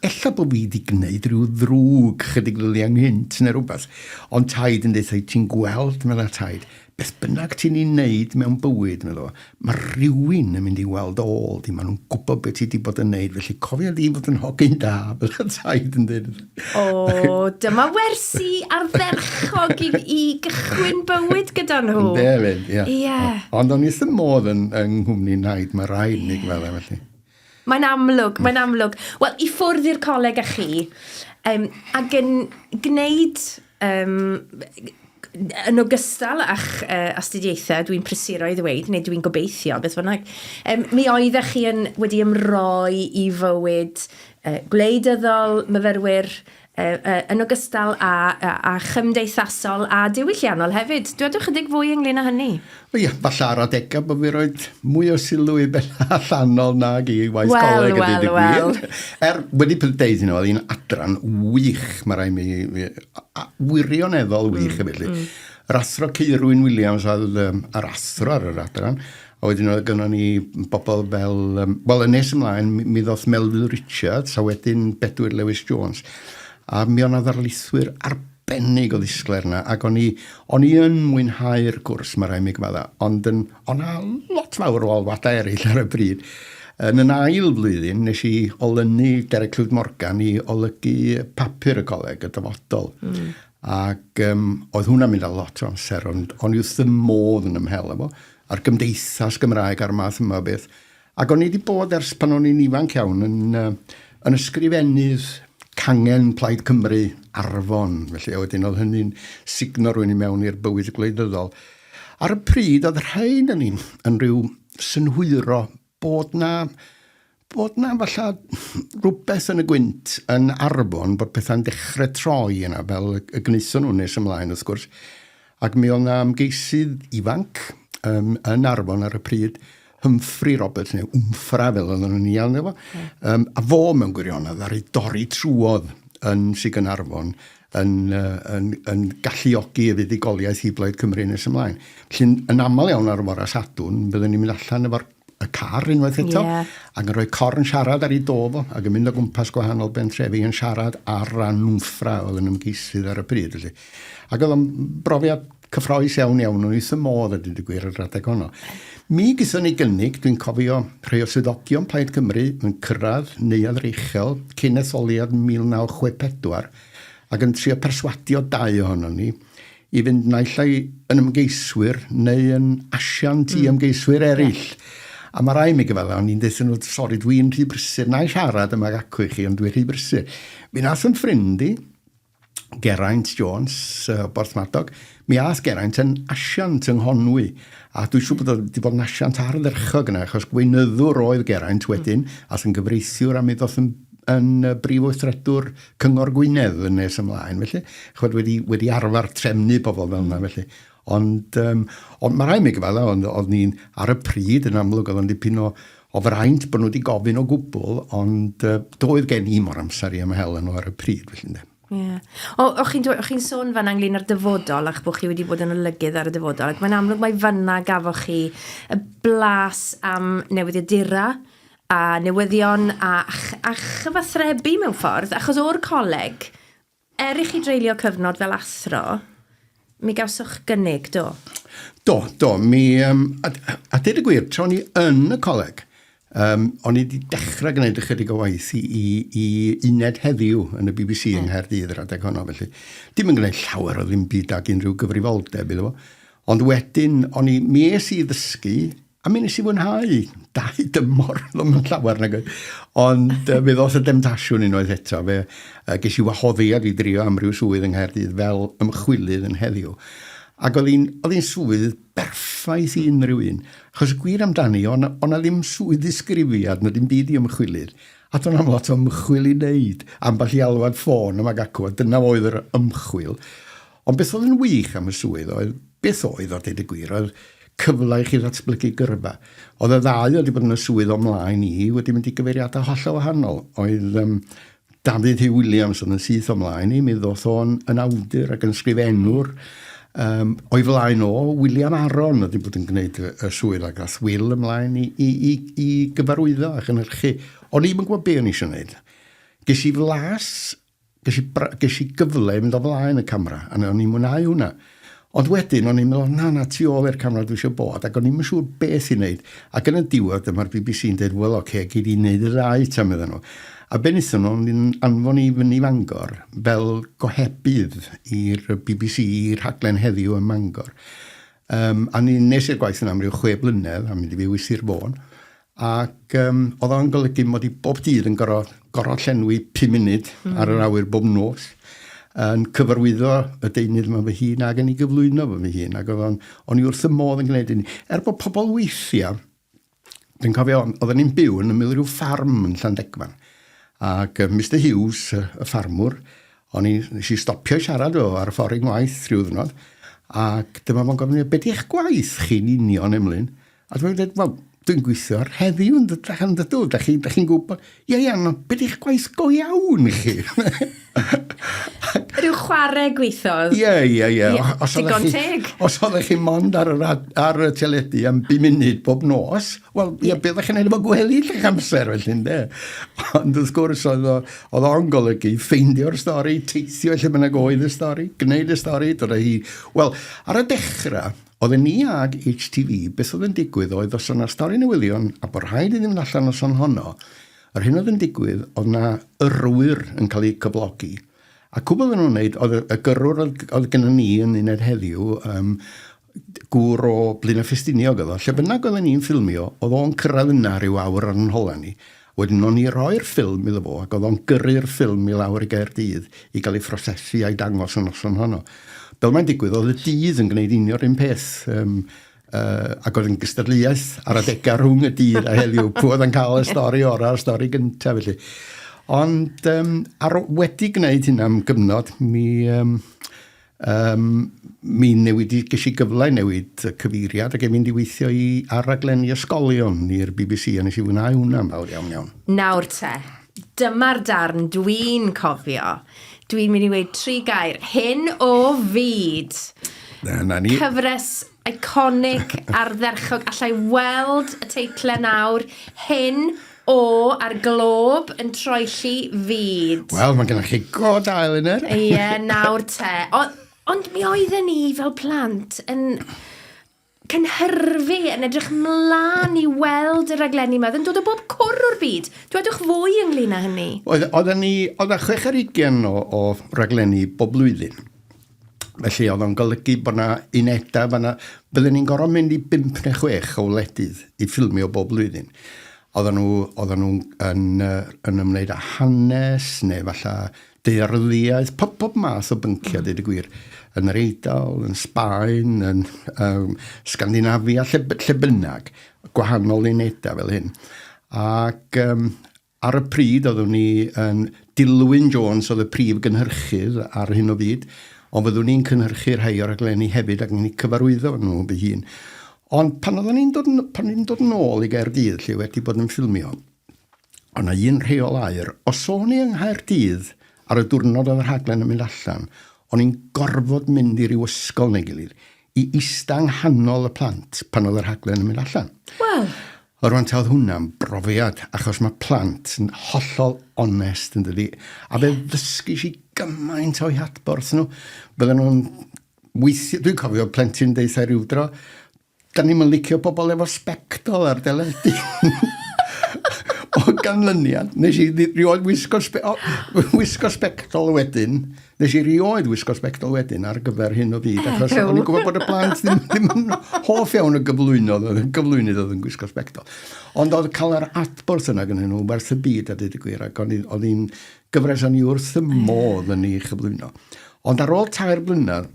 Ella bod fi 'di gwneud rhyw ddrwg chydig ddyddiau nghynt neu rhywbeth, ond taid yn deutha i, ti'n gweld, medda taid, beth bynnag ti'n ei wneud mewn bywyd, medda fo, mae rhywun yn mynd i weld ôl di, maen nhw'n gwybod be ti 'di bod yn wneud, felly cofia di fod yn hogyn da, fel oedd taid yn dweud wrtha i. O, dyma wersi ardderchog i, i gychwyn bywyd gyda nhw. Yn defyd, ie. Yeah. Yeah. Ond o'n i ddim modd yn, yng nghwmni naid, mae rhaid yeah. ni gweld e felly. Mae'n amlwg, mae'n amlwg. Wel, i ffwrdd i'r coleg â chi, um, ac yn gwneud Yym, yn ogystal â'ch uh, astudiaethau, dwi'n prysuro i ddweud, neu dwi'n gobeithio, beth bynnag, um, mi oeddech chi yn, wedi ymroi i fywyd uh, gwleidyddol, myfyrwyr, uh, uh, yn ogystal â, a, a chymdeithasol a diwylliannol hefyd. Dwedwch ychydig fwy ynglyn â hynny. O ia, falle ar adegau bod fi roed mwy o sylw i ben allanol nag i waith well, coleg well, ydy well. gwir. Er, wedi peth deud hynny, oedd hi'n adran wych, mae rai mi, mi a, wirioneddol wych mm, felly. Mm. Yr athro Ceirwyn Williams oedd um, yr athro ar yr adran, a wedyn oedd gynnon ni bobl fel, um, wel, y nes ymlaen, mi, mi ddoth Melville Richards, a wedyn Bedwyr Lewis Jones. A mi o'na ddarlithwyr ar arbennig o ddisglair yna, ac o'n i, o'n i yn mwynhau'r gwrs, mae rhaid mi gyfadda, ond yn, o'n a lot fawr o alwadau eraill ar y bryd. Yn yn ail flwyddyn, nes i olynu Derek Clwyd Morgan i olygu papur y coleg, y dyfodol. Mm. Ac um, oedd hwnna'n mynd â lot o amser, ond o'n i wrth y modd yn ymhel efo, a'r gymdeithas Gymraeg a'r math yma o beth. Ac o'n i wedi bod ers pan o'n i'n ifanc iawn yn, uh, yn ysgrifennydd cangen Plaid Cymru Arfon, felly a wedyn oedd hynny'n signo rwy'n i mewn i'r bywyd gwleidyddol. Ar y pryd, oedd rhain yn, yn rhyw synhwyro bod na, bod na falla rhywbeth yn y gwynt yn Arfon bod pethau'n dechrau troi yna, fel y, y gnaethon nhw nes ymlaen wrth gwrs. Ac mi oedd 'na ymgeisydd ifanc um, yn Arfon ar y pryd, Humphrey Roberts, neu Wmffra fel oedden nhw'n ei alw fo, um, a fo mewn gwirionedd ar ei dorri trwodd yn Sig yn Arfon yn, uh, yn, yn galluogi y fuddugoliaeth i Blaid Cymru nes ymlaen. Felly, yn aml iawn ar y fora Sadwn, byddwn ni'n mynd allan efo'r y car unwaith eto, yeah. ac yn rhoi cor yn siarad ar ei do fo, ac yn mynd o gwmpas gwahanol bentrefi yn siarad ar ran nwmffra oedd yn ymgeisydd ar y bryd. Felly. Ac oedd o'n brofiad cyffroes iawn iawn, o'n eitha modd a dyd y gwir yr adeg honno. Mi gyson ni gynnig, dwi'n cofio rhai o swyddogion Plaid Cymru yn cyrraedd neuad reichel cyn etholiad 1964 ac yn trio perswadio dau ohono ni i fynd naill ai yn ymgeiswyr neu yn asiant i ymgeiswyr eraill. A mae rai mi gyfala, o'n i'n dweud nhw, sori, dwi'n rhy brysur, na i siarad yma acw i chi, ond dwi'n rhy brysur. Mi nath yn ffrind i, Geraint Jones, uh, Borthmadog, mi ath Geraint yn asiant yng Nghonwy, a dwi'n siŵr bod wedi bod yn asiant ardderchog yna, achos gweinyddwr oedd Geraint wedyn, mm. ath yn gyfreithiwr a mi ddoth yn, yn brif weithredwr Cyngor Gwynedd yn nes ymlaen, felly, chod wedi, wedi arfer trefnu pobl fel yna, felly. Ond, um, ond mae rhaid mi gyfadda, ond oedd ni'n ar y pryd yn amlwg oedd o'n dipyn o, o fraint bod nhw wedi gofyn o gwbl, ond uh, doedd gen i mor amser i ymhel nhw ar y pryd, felly, ynddo. Yeah. O, o chi'n chi sôn fan anglyn ar dyfodol ac bod chi wedi bod yn olygydd ar y dyfodol ac mae'n amlwg mae fanna gafoch chi y blas am newyddiadura a newyddion a, a chyfathrebu mewn ffordd, achos o'r coleg, er i chi dreulio cyfnod fel athro, mi gawsoch gynnig, do? Do, do. Mi, um, a, a dweud y gwir, tra o'n i yn y coleg, um, o'n i wedi dechrau gwneud ychydig o waith i, i, i uned heddiw yn y BBC mm. yng Nghaerdydd yr adeg honno, felly. Dim yn gwneud llawer o ddim byd ag unrhyw gyfrifoldeb iddo fo. Ond wedyn, o'n i, mi es i ddysgu A mi nes i fwynhau dau dymor, ddim yn llawer nag oedd. Ond uh, fe ddoth y demtasiwn unwaith eto. Fe, uh, ges i wahoddiad i drio amryw swydd yng Nghaerdydd fel ymchwilydd yn heddiw. Ac oedd hi'n swydd berffaith i unrhyw un. Achos y gwir amdani, o'na on ddim swydd ddisgrifiad na dim byd i ymchwilydd. A do'n am lot o ymchwil i wneud, ambell i alwad ffôn yma gacw, a dyna oedd yr ymchwil. Ond beth oedd yn wych am y swydd oedd, beth oedd a deud y gwir, oedd cyfle i chi ddatblygu gyrfa. Oedd y ddau oedd wedi bod yn y swydd o mlaen i wedi mynd i gyfeiriadau hollol wahanol. Oedd um, Dafydd Hugh Williams oedd yn syth o mlaen i, mi ddoth o'n yn awdur ac yn sgrifennwr. Um, o'i flaen o, William Aron oedd wedi bod yn gwneud y, y swydd ac ath Will ymlaen i, i, i, i gyfarwyddo a chynhyrchu. O'n i'm yn gwybod be o'n i eisiau gwneud. Ges i flas Ges i, ges i gyfle i fynd o flaen y camera, a o'n i'n mwynhau hwnna. Ond wedyn, o'n i'n meddwl, na, na, tu ôl i'r camera dwi eisiau bod, ac o'n i'n siŵr beth i wneud. Ac yn y diwedd, dyma'r bbc yn dweud, wel, oce, gei di wneud y ddau ta, medden nhw. A be wnaethon nhw, yn anfon i fyny Fangor fel gohebydd i'r bbc i rhaglen heddiw ym Mangor. Um, a ni nes i'r gwaith yn amryw chwe blynedd, a mynd i fyw i Sir Fôn, Ac um, oedd o'n golygu mod i bob dydd yn gorau, gorau llenwi 5 munud mm. ar yr awyr bob nos yn cyfarwyddo y deunydd yma fy hun ac yn ei gyflwyno fy fy hun ac oedd o'n, o'n i wrth y modd yn gwneud hynny. Er bod pobl weithiau, dwi'n cofio, oedden ni'n byw yn ymwyl rhyw ffarm yn Llandegfan ac uh, Mr Hughes, y ffarmwr, o'n i, nes i stopio siarad o ar y ffordd i ngwaith rhyw ddynod ac dyma fo'n gofyn, beth i'ch gwaith chi'n union, Emlyn? A dwi'n dweud, wel, dwi'n gweithio ar heddiw yn dytrach am dydw. Da chi'n chi gwybod, ie, ie, no, beth eich gwaith go iawn i chi? Rhyw chwarae gweithodd. Ie, ie, ie. Os Digon teg. Os oeddech chi mond ar, ar, ar y teledu am bu munud bob nos, wel, ie, yeah. byddech chi'n ei fod gwely lle amser, felly, ynde? Ond wrth gwrs, oedd, oedd o'n golygu ffeindio'r stori, teithio lle bynnag oedd y stori, gwneud y stori, dod o hi. Wel, ar y dechrau, Oedden ni ag HTV, beth oedd yn digwydd oedd os oedd na stori newyddion a bod rhaid iddyn mynd allan noson honno, yr hyn oedd yn digwydd oedd na yrrwyr yn cael eu cyflogi. A cwbl oedden nhw'n wneud oedd y gyrrwr oedd oedd gynnon ni yn uned heddiw, um, gŵr o Blaenau Ffestiniog oedd o, lle bynnag oedden ni'n ffilmio, oedd o'n cyrraedd yna rhyw awr ar yn hola ni, Wedyn o'n i roi'r ffilm iddo fo ac o'dd o'n gyrru'r ffilm i lawr i Gaerdydd i ga'l ei phrosesu a'i dangos y noson honno. Fel mae'n digwydd o'dd y dydd yn gwneud union 'r un peth yym yy ac o'dd yn gystadleuaeth ar adega rhwng y dydd a heddiw pw o'dd yn ca'l y stori ora a'r stori gynta felly. Ond yym ar o- wedi gwneud hynna am gyfnod mi yym Yym, mi newid i, ges i gyfle i newid y cyfeiriad ac e'n mynd i weithio i ar raglenni ysgolion i'r BBC a nes i fwynhau hwnna'n fawr iawn iawn. Nawr te, dyma'r darn dwi'n cofio. Dwi'n mynd i weud tri gair, hyn o fyd! Dyna ni. Cyfres Iconic, ardderchog. Alla i weld y teitlau nawr. Hyn o a'r glob yn troelli fyd. Wel, mae gennych chi go da, Elinor. Ie, yeah, nawr te. O, ond mi oedden ni fel plant yn cynhyrfu, yn edrych mlaen i weld y raglenni yma. Yn dod o bob cwr o'r byd. Dwedwch fwy ynglyn â hynny. Oedden ni, oedden chwech ar ugen o, o raglenni bob blwyddyn. Felly oedd o'n golygu bod yna unedau fanna. Bydden ni'n gorfod mynd i bimp neu chwech o wledydd i ffilmio bob blwyddyn. Oedden nhw, oedden nhw yn, yn ymwneud â hanes neu falle dearyddiaeth, pob, pob math o bynciau, mm. dweud y gwir, yn yr Eidal, yn Sbaen, yn um, Scandinavia, lle, lle bynnag, gwahanol unedau fel hyn. Ac um, Ar y pryd oeddwn i yn dilwyn Jones oedd y prif gynhyrchydd ar hyn o fyd, ond fyddwn i'n cynhyrchu rhai o raglenni hefyd ac yn eu cyfarwyddo nhw fy hun. Ond pan oeddwn i'n dod yn... pan dwi'n dod yn ôl i Gaerdydd lle wedi bod yn ffilmio, oedd 'na un rheol aur. Os o'n i yng Nghaerdydd ar y diwrnod oedd y rhaglen yn mynd allan, o'n i'n gorfod mynd i ryw ysgol neu gilydd i ista yng nghanol y plant pan oedd y rhaglen yn mynd allan. Wel! Yr wan ta oedd hwnna'n brofiad, achos mae plant yn hollol onest yn dydi, a fe ddysgis i gymaint o'i hadborth nhw. Bydden nhw'n weithio, dwi'n cofio plentyn deitha rhyw dro, da ni'n licio pobl efo sbectol ar deledu. o ganlyniad, nes i rioed wisgo, spe, o, wisgo sbectol wedyn, Nes i rioed wisgo sbectol wedyn ar gyfer hyn o fyd, achos o'n i'n gwybod bod y plant ddim, ddim yn hoff iawn y gyflwynodd, y gyflwynydd oedd yn gwisgo sbectol. Ond oedd cael yr adborth yna gyda nhw werth y byd a dweud y gwir, ac oedd hi'n gyfres o'n i wrth y modd yn ei chyflwyno. Ond ar ôl tair blynedd,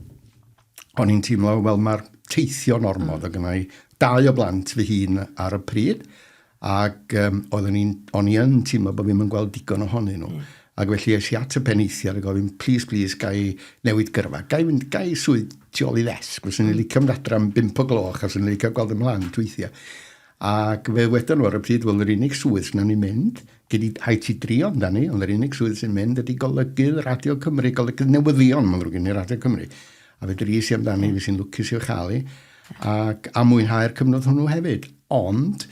o'n i'n teimlo, wel mae'r teithio'n ormod, mm. o gynnau dau o blant fy hun ar y pryd, Ac um, oeddwn i'n, o'n i yn teimlo bod fi'n yn gweld digon ohonyn nhw. Mm. Ac felly es i at y peneithiad a gofyn, please, please, gai newid gyrfa, gai, mynd, gai swydd tu ôl i ddesg, fes i'n mm. licio mynd adra am 5 o gloch, a fes i'n licio gweld ymlaen tweithiau. Ac fe wedon nhw ar y pryd, wel, yr unig swydd sy'n ni'n mynd, gyda hai ti drio amdani, ond yr unig swydd sy'n mynd ydy golygydd Radio Cymru, golygydd newyddion, mae'n ddrwg gen i Radio Cymru. A fedrus i amdani, fi sy'n lwcus i'w chael i, ac a mwynhau'r cyfnod hwnnw hefyd. Ond,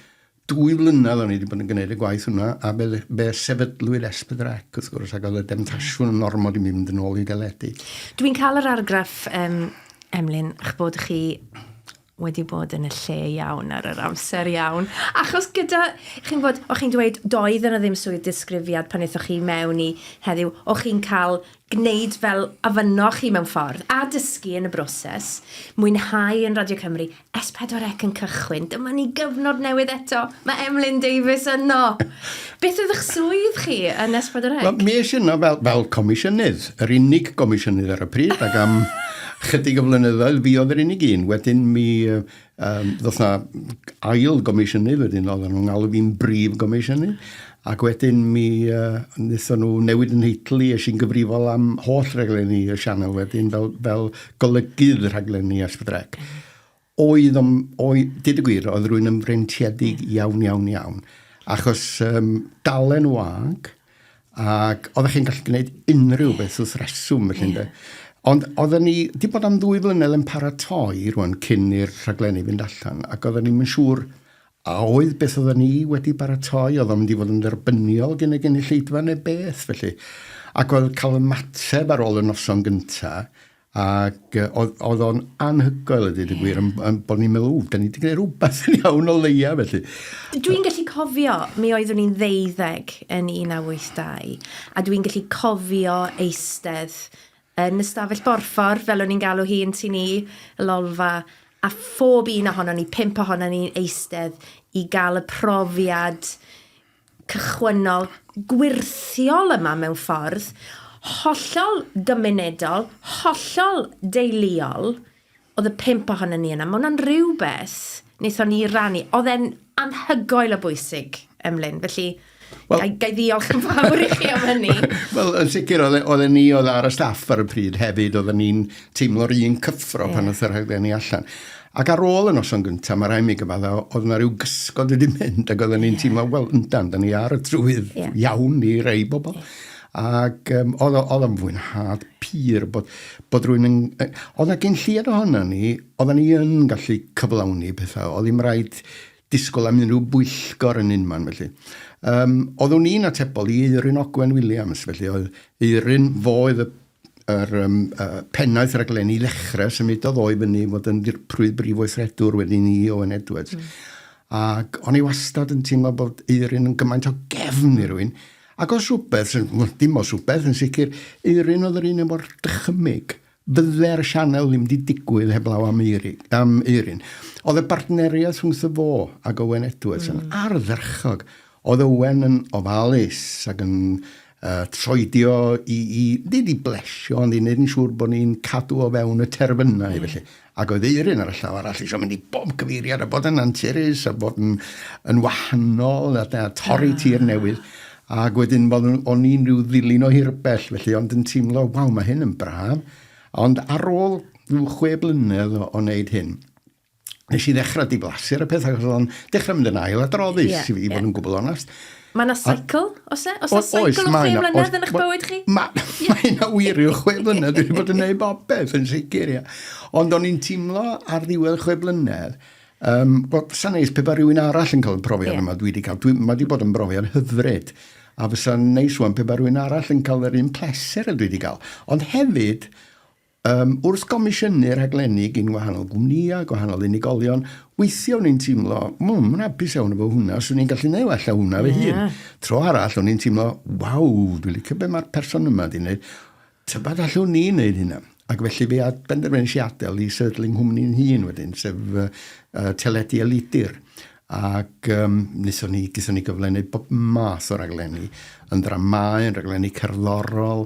dwy flynedd o'n i wedi bod yn gwneud y gwaith hwnna, a be, be sefydlwyd Esbydrec, wrth gwrs, ac oedd y demtasiwn yn ormod i mi fynd yn ôl i deledu. Dwi'n cael yr argraff, um, Emlyn, ych bod chi wedi bod yn y lle iawn ar yr amser iawn. Achos gyda, chi'n bod, o'ch chi'n dweud, doedd yna ddim swydd disgrifiad pan eithoch chi mewn i heddiw, o'ch chi'n cael gwneud fel afynno chi mewn ffordd, a dysgu yn y broses, mwynhau yn Radio Cymru, S4C yn cychwyn, dyma ni gyfnod newydd eto, mae Emlyn Davies yno! Beth oedd eich swydd chi yn Esbydreg? Wel, mi eisiau yno fel, fel comisiynydd, yr unig gomisiynydd ar y pryd, ac am chydig o flynyddoedd fi oedd yr unig un. Wedyn mi um, ddoth na ail gomisiynydd, wedyn oedd nhw'n galw fi'n brif gomisiynydd, ac wedyn mi uh, wnaethon nhw newid yn heitl i, eisiau i'n gyfrifol am holl rhaglenni y sianel wedyn, fel, fel golygydd rhaglenni Esbydreg. Oedd, ond oedd, dyd y gwir, oedd rwy'n ymfreintiedig iawn, iawn, iawn. Achos um, dalen wag, ac oeddech chi'n gallu gwneud unrhyw beth wrth reswm, felly, yeah. Ond oedden ni, di bod am ddwy flynedd yn paratoi rwan cyn i'r rhaglenni fynd allan, ac oedden ni'n mynd siŵr a oedd beth oedden ni wedi baratoi, oedd o'n mynd i fod yn dderbyniol gen y gynulleidfa neu beth, felly. Ac oedd cael ymateb ar ôl y noson gyntaf, Ac yy oedd oedd o'n anhygoel a dweud y gwir, yn yn bod ni'n meddwl, ww, da ni wedi gwneud rhywbeth yn iawn o leia felly. Dwi'n gallu cofio, mi oeddwn i'n ddeuddeg yn 1982, a dwi'n gallu cofio eistedd yn y stafell borffor, fel o'n i'n galw hi yn Tŷ Ni, y Lolfa, a phob un ohonon ni, pump ohonon ni'n eistedd i gael y profiad cychwynnol gwyrthiol yma mewn ffordd hollol gymunedol, hollol deuluol, oedd y pump ohonon ni yna. Mae hwnna'n rhywbeth wnaethon ni rannu. Oedd e'n anhygoel o bwysig, Emlyn. Felly, well, gai, gai ddiolch yn fawr i chi am hynny. Wel, yn sicr, oedd e, oedd e ni oedd ar y staff ar y pryd hefyd, oedd ni'n teimlo'r un cyffro yeah. pan oedd yr rhaglenni allan. Ac ar ôl y noson gyntaf, mae rhaid mi gyfadda, oedd yna rhyw gysgod wedi mynd, ac oedden ni'n teimlo, wel, yndan, da ni ar y trywydd iawn i rei bobl. Ac um, oedd, oedd o'n fwynhad pur bod, bod rwy'n... Yn, oedd yna gen lliad ohono ni, oedden ni yn gallu cyflawni pethau, oedd ddim rhaid disgwyl am unrhyw bwyllgor yn unman, felly. Um, oeddwn i'n atebol i Eirin Ogwen Williams, felly oedd Eirin, fo oedd y yr um, uh, pennaeth raglenni lechrau, symudodd o i fyny fod yn ddirprwy brif weithredwr wedi ni Owen Edwards. Mm. Ac o'n i wastad yn teimlo bod Eirin yn gymaint o gefn i rwy'n. Ac os rhywbeth, dim os rhywbeth yn sicr, Eirin oedd yr un efo'r dychymyg. Bydde'r sianel ddim wedi digwydd heblaw am, Eiri, am Eirin. Oedd y bartneriaeth rhwng y fo ac Owen Edwards mm. yn ardderchog. Oedd Owen yn ofalus ac yn a troedio i, i, nid i blesio, ond i wneud yn siŵr bod ni'n cadw o fewn y terfynau, mm. felly. Ac oedd Eirin ar y llaw arall eisiau mynd i bob cyfeiriad a bod yn anturus a bod yn, yn wahanol a, a torri ah. tir newydd. Ac wedyn, bod o'n i'n rhyw ddilyn o hirbell, felly, ond yn teimlo, waw, mae hyn yn braf. Ond ar ôl rhyw chwe blynedd o, o wneud hyn, nes i ddechrau diflasu ar y peth, ac oedd o'n dechrau mynd yn ail adroddus, yeah, i, i yeah. fod yn gwbl onest. Mae yna cycle, os e? Os yna cycle o chwe mlynedd yn eich bywyd chi? Mae ma yna wir i'w chwe mlynedd, dwi'n bod yn neud bob beth yn sicr, ia. Ond o'n i'n teimlo ar ddiwedd chwe mlynedd, um, wel, sa'n neis pe ba rhywun arall yn cael y profiad yeah. yma dwi wedi cael. Dwi, mae wedi bod yn brofiad hyfryd. A fysa'n neis wan pe ba rhywun arall yn cael yr un pleser y dwi wedi cael. Ond hefyd, Um, wrth gomisiynu rhaglenni gyn wahanol gwmnïau, gwahanol unigolion, weithiau o'n i'n teimlo, mw, mae'n hapus iawn efo hwnna, swn i'n gallu neud allan hwnna yeah. fy hun. Tro arall, o'n i'n teimlo, waw, dwi'n licio be mae'r person yma di wneud. Tybad allwn ni wneud hynna? Ac felly fe ad benderfynu si adael i sefydlu nghwmni'n hun wedyn, sef uh, uh, teledu a lidir. Ac um, nithon ni, gython ni gyflennu bob math o raglenni, yn dramau, yn raglenni cerddorol,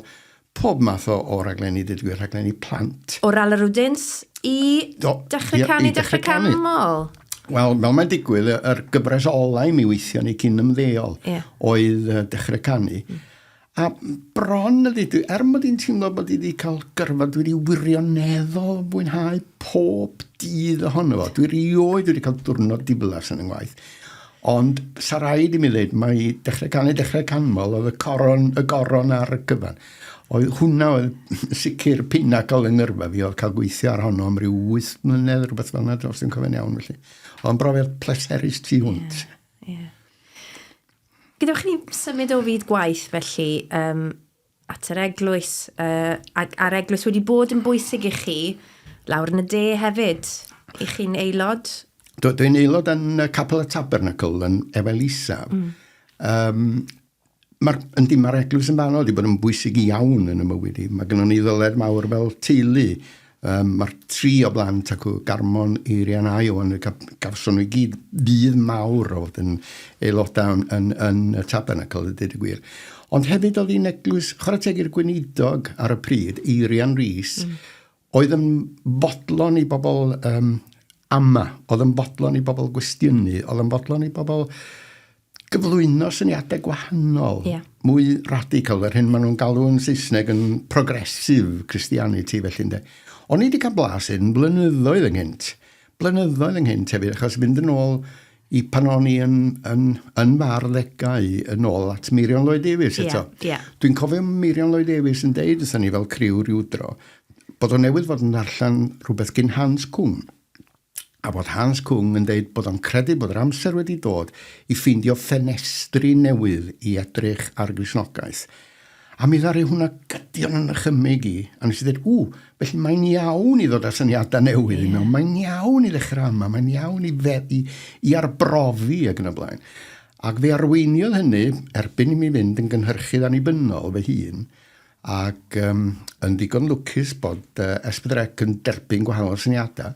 Pob math o o raglenni deud y gwir, rhaglenni plant. O Ralarwdins i Do, Dechrau ie, Canu, i Dechrau Dechrau Canu. Canmol. Wel, fel mae'n digwydd, y- yr gyfres olau mi weithio ni cyn ymddeol Ie. oedd uh, Dechrau Canu. Mm. A bron y ddeud, er mod i'n teimlo bod i wedi cael gyrfa, dwi wedi wirioneddol fwynhau pob dydd ohono fo. Dwi rioed wedi cael diwrnod diflas yn yng ngwaith. Ond, sa raid i mi ddeud, mae dechrau can i dechrau canmol, oedd y coron, y goron ar y cyfan. Oedd hwnna oedd sicr pinacl yng ngyrfa fi, oedd cael gweithio ar honno am ryw 8 mlynedd, rhywbeth fel yna, os dwi'n cofio'n iawn felly. Oedd brofiad pleserus tu hwnt. Yeah. Gadewch i ni symud o fyd gwaith felly, um, at yr eglwys, uh, ac a'r eglwys wedi bod yn bwysig i chi lawr yn y de hefyd, i chi'n aelod? Dwi'n dwi aelod yn y Capel y Tabernacle yn Efel Isaf. Mm. Um, Mae'r yndi, mae'r eglwys yn fanol wedi bod yn bwysig iawn yn y mywyd i. Mae gennym ni ddyled mawr fel teulu Um, Mae'r tri o blant ac o Garmon, Eirian a Iwan, gawson nhw i gyd fydd mawr o fod yn aelodau yn, yn, yn y tabernacl, y dyd y gwir. Ond hefyd oedd hi'n eglwys, chwarae teg i'r gweinidog ar y pryd, Eirian Rhys, mm. oedd yn fodlon i bobl um, ama, oedd yn fodlon i bobl gwestiynu, oedd yn fodlon i bobl gyflwyno syniadau gwahanol, yeah. mwy radical, yr hyn maen nhw'n galw yn Saesneg yn progressive Christianity, felly, ynde. O'n i wedi cael blas yn blynyddoedd ynghynt. Blynyddoedd ynghynt hefyd, achos mynd yn ôl i pan o'n i yn, yn, yn fawr ddegau yn ôl at Meirion Lloyd Davies eto. Yeah, yeah. Dwi'n cofio Meirion Lloyd Davies yn deud, ydyn ni fel criw rhyw dro, bod o'n newydd fod yn ddarllen rhywbeth gyn Hans Cwm. a bod Hans Küng yn deud bod o'n credu bod yr amser wedi dod i ffeindio ffenestri newydd i edrych ar Gristnogaeth. A mi ddaru hwnna gydio yn 'y nychymyg i, a nes i ddeud, 'Ww, felly mae'n iawn i ddod â syniadau newydd i mewn, mae'n iawn i ddechrau yma, mae'n iawn i, fe, i, i arbrofi ac yn y blaen. Ac fe arweiniodd hynny, erbyn i mi fynd yn gynhyrchydd annibynnol fy hun, ac yym yn ddigon lwcus bod yy Ess Pedwar Ec yn derbyn gwahanol syniada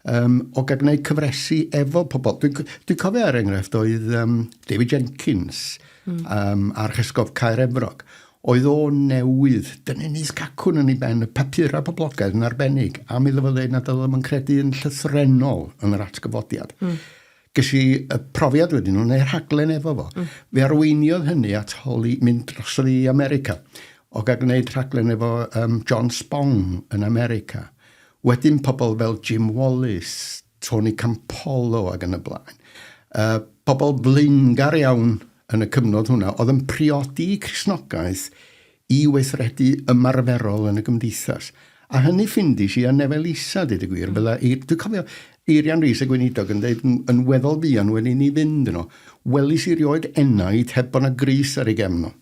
yym o gael gwneud cyfresi efo pobl. Dwi'n c- dwi'n cofio er enghraifft oedd yym David Jenkins mm. yym a'r Chesgof Caer Efrog oedd o newydd dynnu nis cacwn yn ei ben y papurau poblogaidd yn arbennig a mi ddyfod ddeud nad oedd o'm yn credu yn llythrennol yn yr atgyfodiad. Mm. Ges i y profiad wedyn nhw, neu rhaglen efo fo. Mm. Fe arweiniodd hynny at holi mynd dros i America. O gael gwneud rhaglen efo um, John Spong yn America. Wedyn pobl fel Jim Wallace, Tony Campolo ac yn y blaen. Uh, pobl flaengar iawn yn y cyfnod hwnna, oedd yn priodi Cresnogaeth i weithredu ymarferol yn y gymdeithas. A hynny ffindis i ar nefel isa, dweud y gwir. Bydda, i, dwi'n cofio Eirian Rees y Gweinidog yn dweud yn weddol fuan wedi ni fynd yno, welis i rioed enaid heb bod yna gris ar ei gefn o.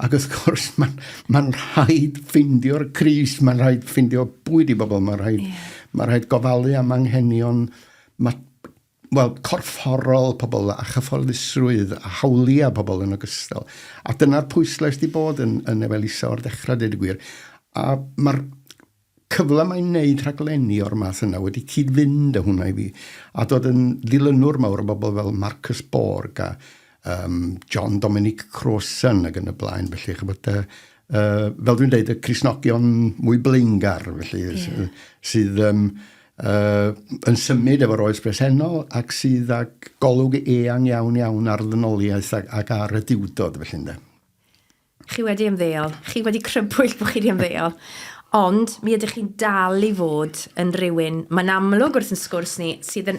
Ac wrth gwrs, mae'n ma rhaid ffindio'r cris, mae'n rhaid ffindio bwyd i bobl, mae'n rhaid, yeah. ma rhaid gofalu am anghenion, mae wel, corfforol pobl a chyfforddusrwydd a hawliau pobl yn ogystal. A dyna'r pwyslais di bod yn, yn Efelisa o'r dechrau, dweud y gwir. A mae'r cyfle mae'n wneud rhaglenni o'r math yna wedi cyd-fynd â hwnna i fi. A dod yn ddilynwr mawr o bobl fel Marcus Borg a um, John Dominic Crossan ac yn y blaen. Felly, chybod, uh, uh, fel dwi'n dweud, y Crisnogion mwy blaengar, felly, yeah. sydd um, uh, yn symud efo'r oes bresennol ac sydd ag golwg eang iawn iawn ar ddynoliaeth ac, ac ar y diwdod, felly, ynde. Chi wedi ymddeol, chi wedi crybwyll bod chi wedi ymddeol, ond mi ydych chi'n dal i fod yn rhywun, mae'n amlwg wrth yn sgwrs ni, sydd yn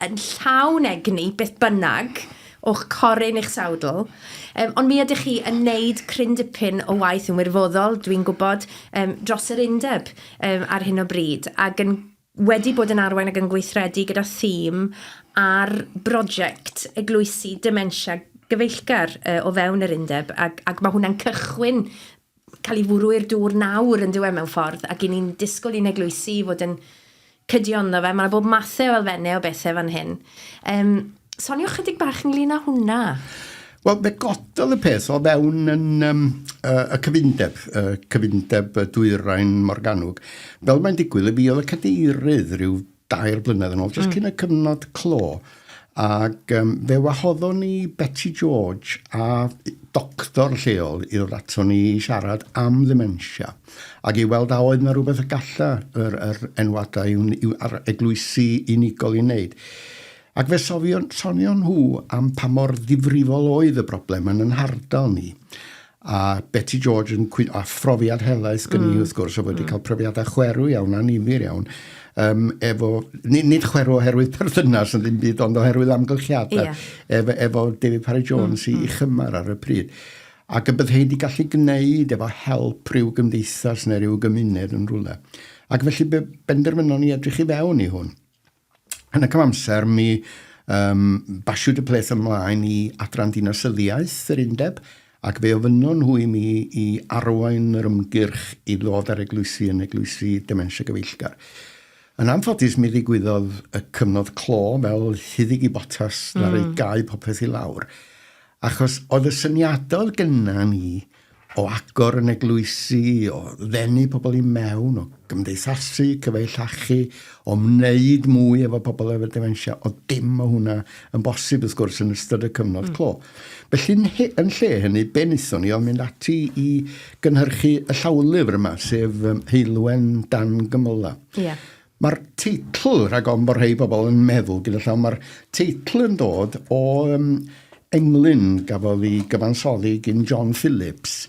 yn llawn egni, beth bynnag, o'ch coryn i'ch sawdl. Um, ond mi ydych chi yn wneud cryn dipyn o waith yn wirfoddol, dwi'n gwybod, um, dros yr undeb um, ar hyn o bryd, ac yn wedi bod yn arwain ac yn gweithredu gyda thîm ar brosiect eglwysi dementia gyfeillgar uh, o fewn yr undeb ac, ac mae hwnna'n cychwyn cael ei fwrw i'r dŵr nawr yn dyw e mewn ffordd ac i ni'n disgwyl i'n eglwysi fod yn cydio ynddo fe. Mae yna bob mathau o elfennau o bethau fan hyn. Um, sonio chydig bach ynglyn â hwnna. Wel, fe gododd y peth o fewn yn, um, uh, y cyfundeb, uh, cyfundeb y dwyrain Morganwg. Fel mae'n digwydd, y fi oedd y cadeirydd rhyw dair blynedd yn ôl, jyst mm. cyn y cyfnod clo. Ac um, fe wahoddon ni Betty George a doctor lleol i ddod ato ni i siarad am ddementia ac i weld a oedd yna rhywbeth y galla yr, yr enwadau yw, yw ar eglwysi unigol i wneud. Ac fe sofion, sonion nhw am pa mor ddifrifol oedd y broblem yn yn hardal ni. A Beti George yn cwyn... A phrofiad helaeth gen i, mm. wrth gwrs, o wedi mm. cael profiadau chwerw iawn, anifir iawn, um, efo, nid, nid chwerw oherwydd perthynas yn ddim byd, ond oherwydd amgylchiadau, yeah. efo, efo David Parry Jones mm. i, i chymar ar y pryd. Ac y byddai wedi gallu gwneud efo help rhyw gymdeithas neu rhyw gymuned yn rhywle. Ac felly benderfynon ni edrych i fewn i hwn. Yn y cyfamser, mi um, basiwyd y peth ymlaen i adran dinasyddiaeth yr undeb, ac fe ofynnon nhw i mi i arwain yr ymgyrch i ddod ar eglwysi yn eglwysi dementia gyfeillgar. Yn anffodus, mi ddigwyddodd y cyfnod clo fel hyddig i botas mm. ar ei gau popeth i lawr. Achos oedd y syniadau oedd gynna ni o agor yn eglwysi, o ddenu pobl i mewn, o gymdeithasu, cyfeillachu, o wneud mwy efo pobl efo dementia, o dim o hwnna yn bosib wrth gwrs yn ystod y cyfnod mm. clo. Felly yn, he, yn lle hynny, be wnaethon ni oedd mynd ati i gynhyrchu y llawlyfr yma, sef um, Heilwen Dan Gymyla. Yeah. Mae'r teitl, rhag ofn bod rhai pobl yn meddwl gyda llaw, mae'r teitl yn dod o um, englyn gafodd ei gyfansoddi gyn John Phillips,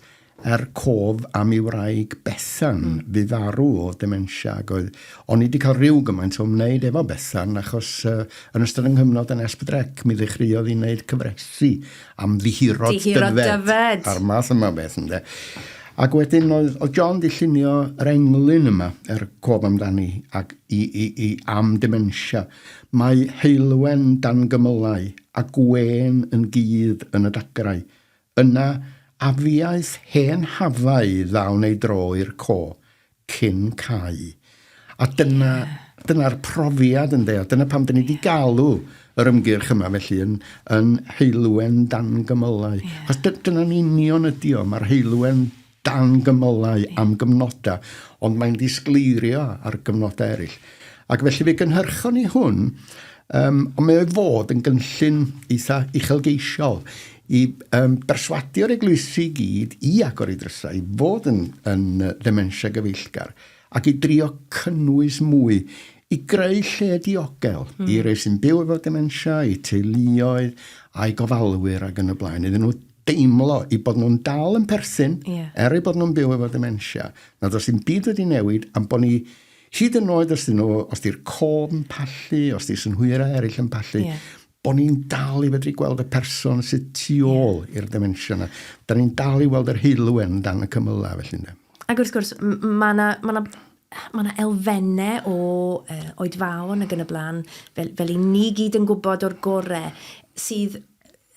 er cof am ei wraig Bethan, mm. fu farw o dementia, ac oedd o'n i wedi cael rhyw gymaint o wneud efo Bethan, achos uh, yn ystod yng nghyfnod yn Esbydrec, mi ddechreuodd i wneud cyfresu Amddihiro Dyfed. A'r math yma beth, ynde. Ac wedyn oedd, oedd John di llunio yr englyn yma, yr er cof amdani, ac i, i, i am dementia. Mae heulwen dan gymylau a gwen yn gudd yn y dagrau. Yna, afiaeth hen hafau ddawn ei dro i'r co, cyn cau. A dyna, dyna'r profiad ynde, a dyna pam dyn ni wedi galw yr ymgyrch yma felly yn, yn heilwen dan gymylau. Yeah. Chos dyna'n union ydi o, mae'r heilwen dan gymylau yeah. am gyfnodau, ond mae'n disgleirio ar gyfnodau eraill. Ac felly fe gynhyrchon ni hwn, um, ond mae o'i fod yn gynllun eitha uchelgeisiol i berswadio'r eglwysi i gyd i agor ei drysau i fod yn yn ddementia gyfeillgar ac i drio cynnwys mwy i greu lle diogel mm. i rei sy'n byw efo dementia, i teuluoedd, a'i gofalwyr ac yn y blaen, iddyn nhw deimlo i bod nhw'n dal yn perthyn, yeah. er ei bod nhw'n byw efo dementia, nad oes dim byd wedi newid, am bod ni hyd yn oed os dyn nhw, os di'r cof yn pallu, os di synhwyra eraill yn pallu, yeah. Bod ni'n dal i fedru gweld y person sydd tu ôl yeah. i'r dementia yna. Da ni'n dal i weld yr heilwen dan y cymylau felly ynddo. Ac wrth gwrs, mae yna ma mae yna elfennau o uh, oedfaon ag yn y blaen, fel, fel i ni gyd yn gwybod o'r gorau, sydd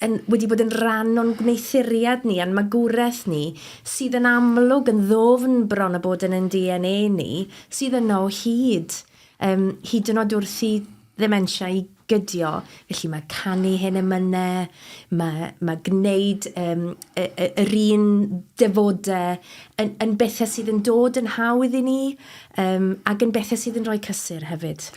yn, wedi bod yn rhan o'n gwneuthuriad ni a'n magwraeth ni, sydd yn amlwg yn ddofn bron o bod yn yn DNA ni, sydd yno o hyd, um, hyd yn oed wrth i ddementia i gydio, felly mae canu hen emynau, mae, mae gwneud um, y, y, yr un defodau yn, yn bethau sydd yn dod yn hawdd i ni um, ac yn bethau sydd yn rhoi cysur hefyd.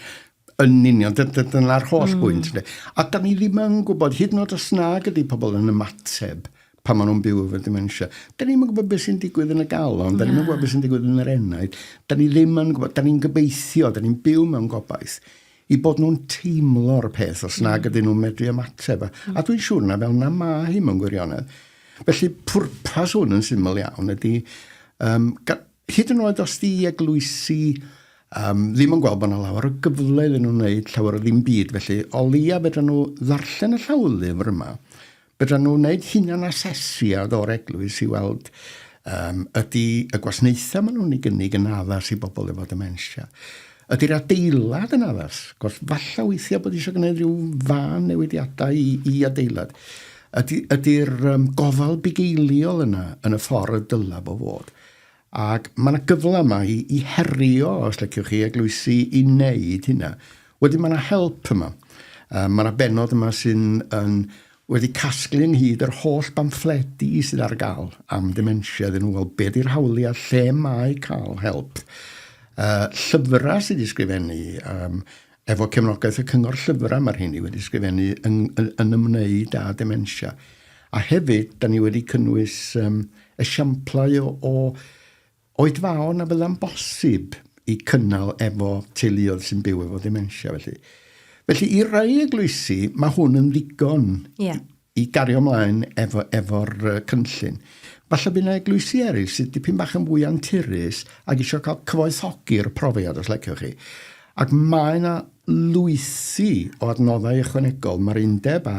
Yn union, dyna'r holl mm. bwynt. A da ni ddim yn gwybod, hyd yn oed os nag ydy pobl yn ymateb, pan maen nhw'n byw efo dementia. Da ni'n gwybod beth sy'n digwydd yn y galon, da ni'n gwybod beth sy'n digwydd yn yr enaid, da ni ddim yn gwybod, da ni'n gobeithio, da ni'n byw mewn gobaith, i bod nhw'n teimlo'r peth os nag mm. ydyn nhw'n medru ymateb. A, a dwi'n siŵr na fel na ma hi mewn gwirionedd. Felly pwrpas hwn yn syml iawn ydy, um, hyd yn oed os di eglwysi um, ddim yn gweld bod yna lawer o gyfle iddyn nhw'n wneud llawer o ddim byd, felly o leia fedra nhw ddarllen y llawlyfr yma, Byddan nhw'n wneud hunanasesiad o'r eglwys i weld um, ydy y gwasnaethau maen nhw'n ei gynnig yn addas i bobl efo dementia. Ydy'r adeilad yn addas? Cos falle weithiau bod eisiau gwneud rhyw fan newidiadau i, i adeilad. Ydy'r ydy, ydy um, gofal bugeiliol yna yn y ffordd y dylai fo fod? Ac mae yna gyfle yma i, i herio, os leciwch chi, eglwysi i wneud hynna. Wedyn mae yna help yma. Um, mae yna benod yma sy'n yn, wedi casglu ynghyd yr holl bamffledi sydd ar gael am dementia iddyn nhw, wel, be di'r hawliau, lle mae cael help. Uh, llyfrau sydd wedi sgrifennu, um, Efo cefnogaeth y Cyngor Llyfrau mae'r rheiny wedi sgrifennu yn, yn ymwneud â dementia. A hefyd, da ni wedi cynnwys um, esiamplau o, o oedfaon a fydda'n bosib i cynnal efo teuluoedd sy'n byw efo dementia felly. Felly i rai eglwysi mae hwn yn ddigon yeah. i gario mlaen efo, efo'r uh, cynllun. Falle bydd yna eglwysi eraill sydd dipyn bach yn fwy anturus ac eisiau cael cyfoethogi'r profiad, os lecioch chi. Ac mae yna lwythi o adnoddau ychwanegol. Mae'r undeb a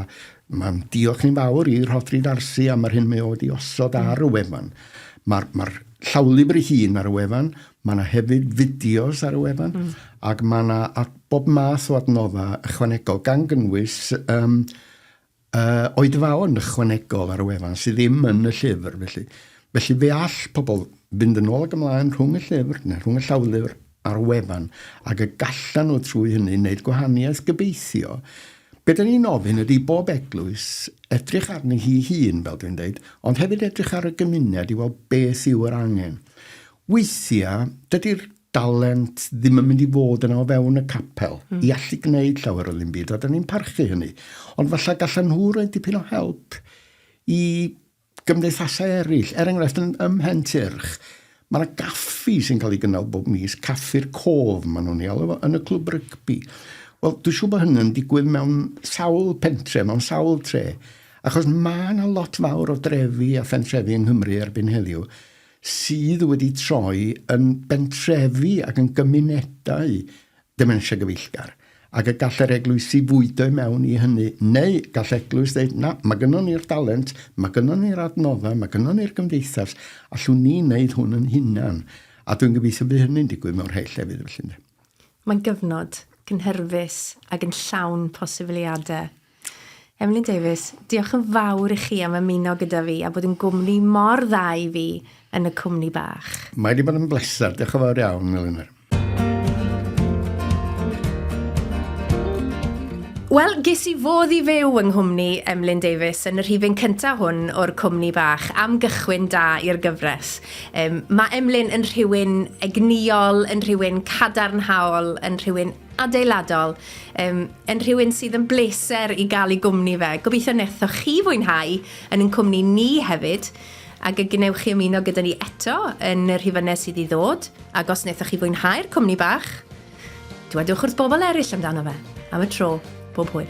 mae'n diolch ni'n fawr i Rhodri Darsi am yr hyn mae o wedi osod mm. ar y wefan. Mae'r ma llawlibr ei hun ar y wefan, mae yna hefyd fideos ar y wefan, mm. ac mae yna bob math o adnoddau ychwanegol, gan gynnwys um, A oedfaon ychwanegol ar y wefan sydd ddim yn y llyfr, felly, felly fe all pobl fynd yn ôl ac ymlaen rhwng y llyfr neu rhwng y llawlyfr a'r wefan ac y gallan nhw trwy hynny wneud gwahaniaeth gobeithio. Be da ni'n ofyn ydy bob eglwys edrych arni hi hun, fel dwi'n dweud, ond hefyd edrych ar y gymuned i weld beth yw yr angen. Weithiau, dydy'r dalent ddim yn mynd i fod yna o fewn y capel mm. i allu gwneud llawer o ddim byd, a da ni'n parchu hynny. Ond falle gallan nhw roi dipyn o help i gymdeithasau eraill. Er enghraifft, yn, ym Mhen Tyrch, mae yna gaffi sy'n cael ei gynnal bob mis, caffi'r cof, maen nhw'n ei alw fo, yn y clwb rygbi. Wel, dwi'n siŵr bod hynny'n digwydd mewn sawl pentre, mewn sawl tre, achos mae yna lot fawr o drefi a phentrefi yng Nghymru erbyn heddiw sydd wedi troi yn bentrefi ac yn gymunedau dementia gyfeillgar, ac y gall yr eglwysi fwydo i mewn i hynny, neu gall eglwys ddeud, na, mae gynnon ni'r dalent, mae gynnon ni'r adnoddau, mae gynnon ni'r gymdeithas, allwn ni wneud hwn yn hunan. A dwi'n gobeithio bydd hynny'n digwydd mewn rhai llefydd felly. Mae'n gyfnod cynhyrfus ac yn llawn posibiliadau. Emlyn Davies, Diolch yn fawr i chi am ymuno gyda fi a bod yn gwmni mor dda i fi yn y cwmni bach. Mae wedi bod yn bleser, diolch yn fawr iawn, Elinor. Wel, ges i fodd i fyw yng nghwmni Emlyn Davies yn y rhifyn cyntaf hwn o'r cwmni bach, am gychwyn da i'r gyfres. Um, mae Emlyn yn rhywun egnïol, yn rhywun cadarnhaol, yn rhywun adeiladol, um, yn rhywun sydd yn bleser i gael ei gwmni fe. Gobeithio nethoch chi fwynhau yn ein cwmni ni hefyd, ac y gwnewch chi ymuno gyda ni eto yn y rhifynnau sydd i ddod, ac os nethoch chi fwynhau'r cwmni bach, dywedwch wrth bobl eraill amdano fe. Am y tro, bob hwyl.